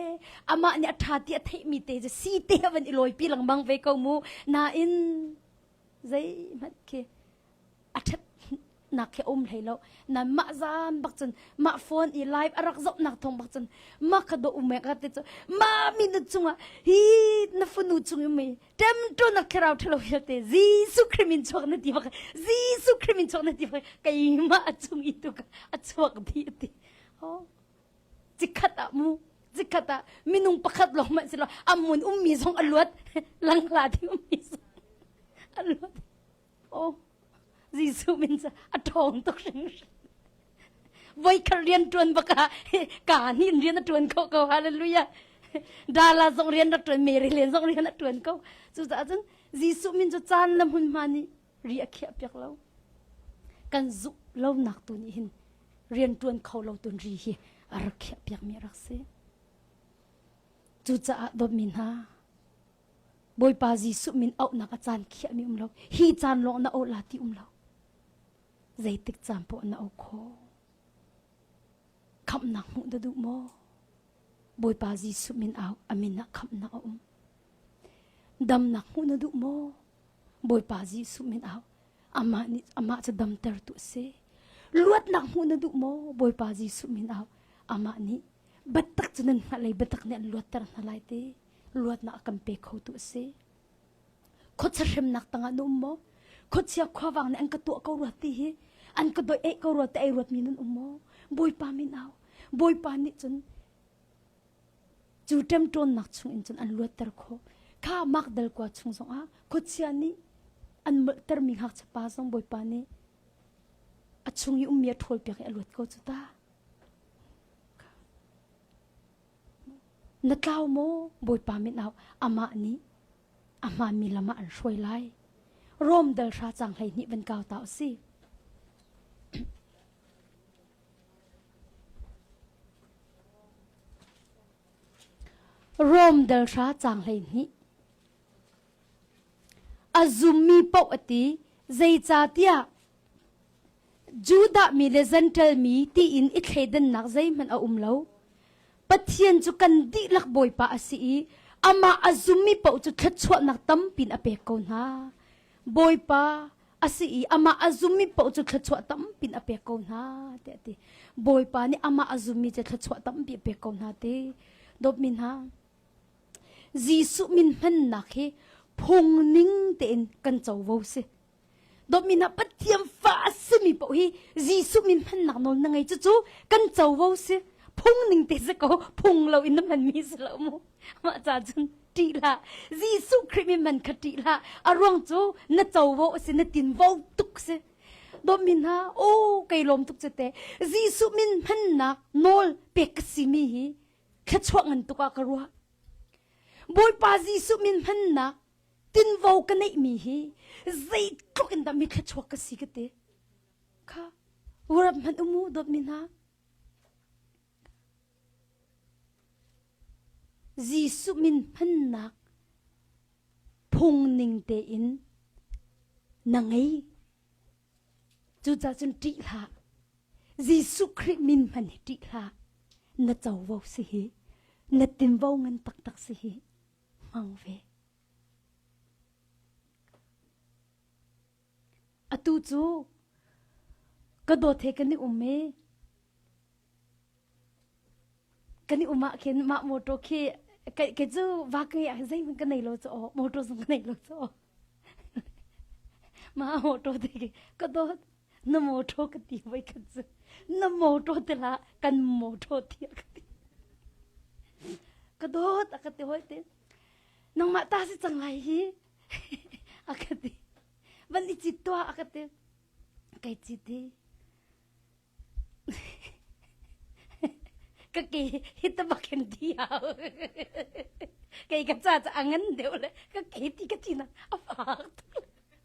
ama ni atha ti a thei mi te je si te havan i loi pi lang bang ve ko mu na in zei mat khi a ṭhatnak hi a um hlei lo. Nain mah zan bak cun mah phone i live a rak zohnak thawng bak cun mah kha daw um ka ti cu mami na cungah hi na fanu chung i mei ṭem ṭun a kherau ṭhalo hi te Jesuh Khrih min chuak na ti bak Jesuh Khrih min chuak na ti bak keimah a chung i tu ka a chuak bi ti. Oh. Cikhat ah mu cikhat ah minung pakhat lawng man si lo amun ummi zong a luat langhla ding ummi zong a luat. Oh, Jesuh min cu a ṭhawng tuk hringhran. Voikhat rian ṭuan bak ah ka nih rian a ṭuan ko ko hallelujah. Dala zong rian rak ṭuan, Mary len zong rian a ṭuan ko. Cucaah cun Jesuh min cu caan le hmunhma nih ri a khiah piak lo. Kan zuk lonak tu nih hin rian ṭuan kho lo tun ri hi a rak khiah piakmi rak si. Cucaah dawtmi hna, Bawipa Jesuh min auhnak a caan khiahmi um lo. Hi caan lawng na auh la ti um lo. Zeitik caan pawh na auh kho. Khamnak hmuh da duh maw? Bawipa Jesuh min au, amin ah khamnak a um. Damnak hmuh na duh maw? Bawipa Jesuh min au, amah nih amah cu damter tu si. Luatnak hmuh na duh maw? Bawipa Jesuh min au, amah nih batak cu nan hngalei batak nih an luatter hna lai te. luatnak kan pe khotu a si. Khuachahremnak tangah na um maw? Khuachia khuavang nih an ka tuah ko rua ti hi an ka doeh ko rua te ai ruatmi nan um maw? Bawipa min au. Bawipa nih cun cu ṭemṭawnnak chungin cun an luatter khawh. Kha makdal kua chung zongah khuachia nih an molhtermi ngakchapa zong Bawipa nih a chung i ummi a ṭhawl piak i a luat ko cu ta. Na tlau maw, Bawipa min ah amah nih a hmaanmi lam ah an hruai lai. Rom dal hra cang hleihnih van kau ta u si. Rom dal hra cang hleihnih. A zummi paoh a ti, zeicahtiah Judah mi le Zentail mi tiin i thleidannak zeihmanh a um lo. Pathian cu kan dihlak Bawipa a si i amah a zummi paoh cu thluachuahnak tampin a pek ko hna. Bawipa a si i amah a zummi paoh cu thluachuah tampin a pek ko hna tiah a ti. Bawipa nih amah a zummi cu thluachuah tampi a pek ko hna ti. Dawtmi hna, Jesuh min hmannak hi phungning tein kan covo si. Dawt min ah Pathian fa a simi paoh hi Jesuh min hmannak nawl na ngei cucu kan covo si phung ning te si ko phung lo in na hmanmi si lo mu mah ca cun ṭih hlah Jesuh Khrih min man kha ṭih hlah a ruang cu na covo si na tinvo tuk si dawt min ha o kei lawm tuk cu te Jesuh min hmannak nawl pek ka simi hi thluachuah ngan tuk ah ka ruah Bawipa Jesuh min hmannak tinvo ka neihmi hi zeitluk in dah mi thluachuak ka si ka ti kha urap hman umu dawtmi hna Jesuh min hmannak phungning tein na ngei cucah cun ṭih hlah Jesuh Khrih min hman hi ṭih hlah na covo si hi na tinvo ngan taktak si hi hmang ve. Atu cu ka dawt he kan i um e. Kan i umah khin mah motor khi ke ke cu va ka ya zei hmun ka nei lo cho motor zung ka nei lo cho. Ma motor te ka dawt na motor ka ti voi khat cu na motor te la kan motor thia ka ti ka dot a ka ti hoi te nangmah ta si cang lai hi a ka ti van i chit tua a ka ti kai chit hi ka ke hi ta bakin thi hau kai ka cha cha angan deu le ka ke ti ka chin a fak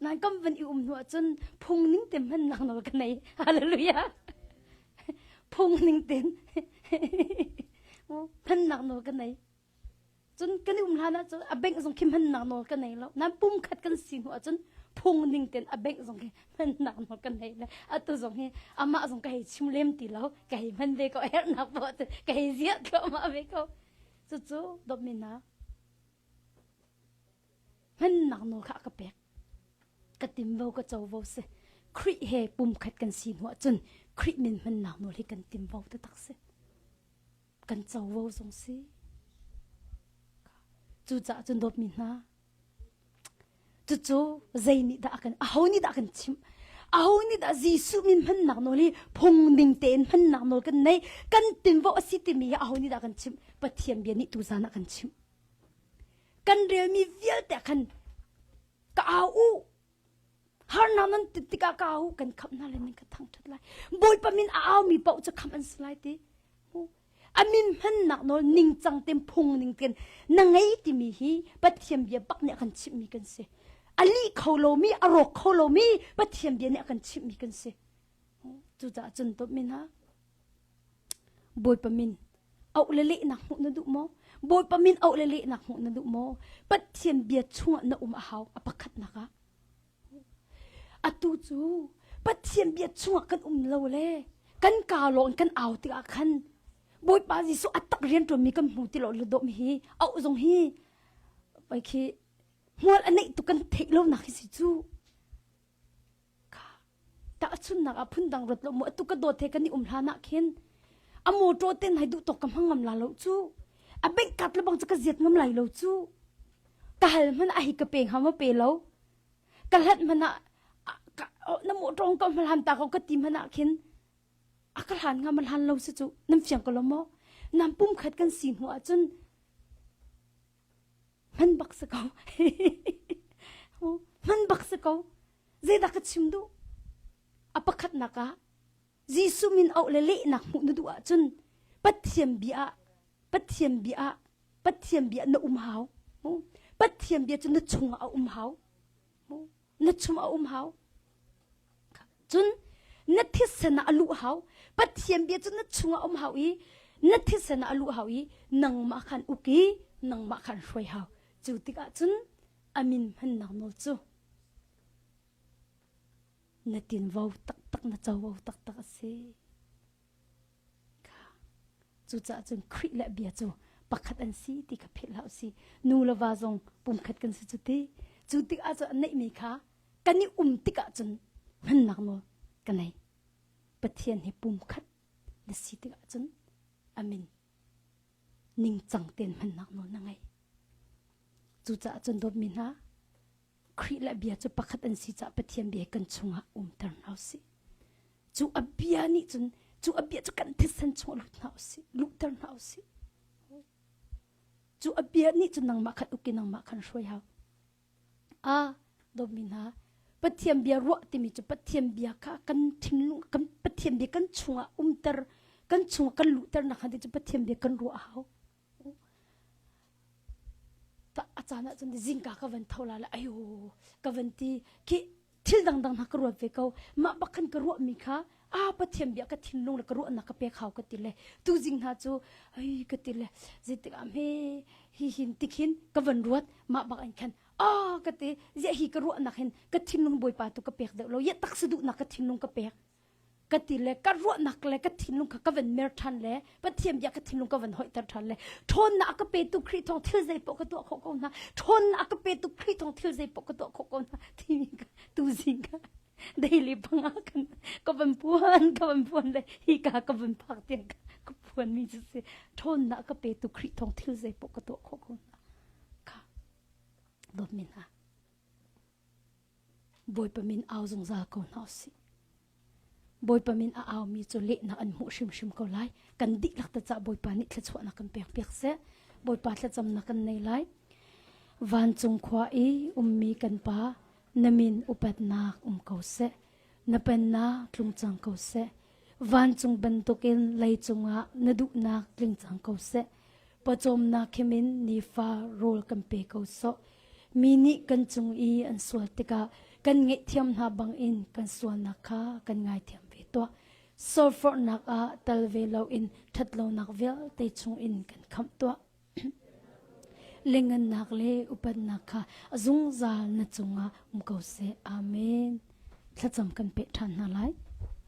Nan kam van i um hnu ahcun phung ning te hmannak nawl ka nei. Hallelujah. Phung ning ten hmannak nawl ka nei. Cun kan i um hlan ahcun a bank zong khi hmannak nawl ka nei lo. Nan pum khat kan si hnu ahcun phung ning ten a bank zong hi hmannak nawl ka nei le atu zong hi amah zong ka hei chim lem ti lo ka hei hman ve ko hernak bo te ka hei ziat thluahmah ve ko cucu domina Hman ngaknu kha a ka pek. Ka timvo ka covo si. Khrih he pumkhat kan si hnu ahcun Khrih min hman ngaknu hi kan timvo te tak si. Kan covo zong si. Cucaah cun dawtmi hna, cucu zei nih dah a kan aho nih dah a kan chimh aho nih dah Jesuh min hmannak nawl hi phung ding tein hmannak nawl kan nei kan tinvo a si timi hi aho nih dah kan chimh Pathian bia nih tu zan ah kan chimh Kan relmi vialte khan ka au u. Harnak nan tit tikah ka au u, kan khamh hna lai, nan ka thangṭhat lai. Bawipa min a aumi paoh cu khamh an si lai ti. A min hmannak nawl ningcang tein phungning tein na ngei timi hi Pathian bia bak nih a kan chimhmi kan si. A lih kho lomi, a rawk kho lomi Pathian bia nih a kan chimhmi kan si. Cucaah cun dawt mi hna, Bawipa min auh le lehnak hmuh na duh maw? Bawipa min auh le lehnak hmuh na duh maw? Pathian bia chungah na um a hau a pakhatnak ah. Atu cu Pathian bia chungah kan um lo le kan ka lawng kan au tikah khan Bawipa Jesuh a tak rian ṭuanmi kan hmu ti lo lo dawm hi auh zong hi poi khi hmual a neih tu kan theih lonak hi si cu. Tahchunnak ah phundang rat lo mu atu ka dawt he kan i um hlan ah khin a motor ten hai duh tok ka hmang ngam la lo cu a bank card le bang cu ka ziat ngam lai lo cu ka hal hman a hi ka peng hama pe lo ka hlat hman ah na motor ka hmalhan ta ko ka ti hman ah khin a ka hlan ngam hlan lo su cu nam fiang ko lo mo nam pum khat kan si hnu ah cun hman bak si ko hman bak si ko zeidah ka chim duh a pakhatnak ah Jesu min auh le lehnak hmuh na duh ahcun Pathian bia Pathian bia Pathian bia na um hau Pathian bia cu na chung ah a um hau na chung a um hau cun na thisen ah a luh hau pathian bia cu na chung a um hau i na thisen ah a luh hau i nangmah khan uk i nangmah khan hruai hau cu tikah cun amin hmannak nawl cu na tinvo taktak na covo taktak a si Cucaah cun Khrih le bia cu pakhat an si ti kha philh hlah usih. Nu le va zong pumkhat kan si cu ti. Cu tikah cun a neihmi kha kan i um tikah cun hmannak nawl ka nei. Pathian hi pumkhat na si tikah cun amin. Ningcang tein hmannak nawl na ngei. Cucaah cun dawtmi hna, Khrih le bia cu pakhat an si caah Pathian bia kan chungah umter hna u sih. Cu a bia nih cun cu a bia cu kan thisen chungah lut hna u sih, luhter hna u sih. Cu a bia nih cun nangmah khan uk i nangmah khan hruai hau. A dawmi hna, Pathian bia ruah timi cu Pathian bia kha kan thinlung kan Pathian bia kan chungah umter kan chungah kan luhter nakhnga ti cu Pathian bia kan ruah hau. a caan ah cun zingka ka van tho la la ayo ka van ti ki thil dangdang na ka ruat ve ko mah bak khan ka ruah mi kha a pathian bia ka thinlung le ka ruah nak ka pek hau ka ti le tu jing hna chu ai ka ti le zeitik am he hi hin tikhin ka van ruat mah bak an khan a ka ti zia hi ka ruah nak hin ka thinlung boipa tu ka pek deuh lo ya tak su du nak ka thinlung ka pek ka ti le ka ruahnak le ka thinlung kha ka van mer ṭhan le pathian bia ka thinlung ka van hoihter ṭhan le ṭhawnnak a ka petu Khrih thawng thil zei poh ka tuah khawh ko hna ṭhawnnak a ka petu Khrih thawng thil zei poh ka tuah khawh ko hna timi ka tuzing ka daily panga kan ka van puan ka van puan le hi ka ka van phak tiang ka ka puan mi cu si ṭhawnnak ka petu Khrih thawng thil zei poh ka tuah khawh ko hna ka dawt min ha Bawipa min au zungzal ko hna usih. Bawipa min a aumi cu lehnak an hmuh hrimhrim ko lai. Kan dihlak ta cah Bawipa nih thluachuahnak kan pek piak seh. Bawipa thlacamnak kan nei lai. Vancung khua i ummi kan pa na min upatnak um ko seh. Na pennak tlung cang ko seh. Vancung bantukin lei cungah na duhnak tling cang ko seh. Pawcawmnak khimin nifa rawl kan pe ko sawh. Mi nih kan cung i an sual tikah kan ngaihthiam hna bangin kan sualnak kha kan ngaithiam ve tuah. Sorfornak ah tal ve loin ṭhatlonak vialte chungin kan khamh tuah. Lengannak le upatnak kha zungzal na cungah um ko seh. Amen. Thlacam kan peh ṭhan hna lai.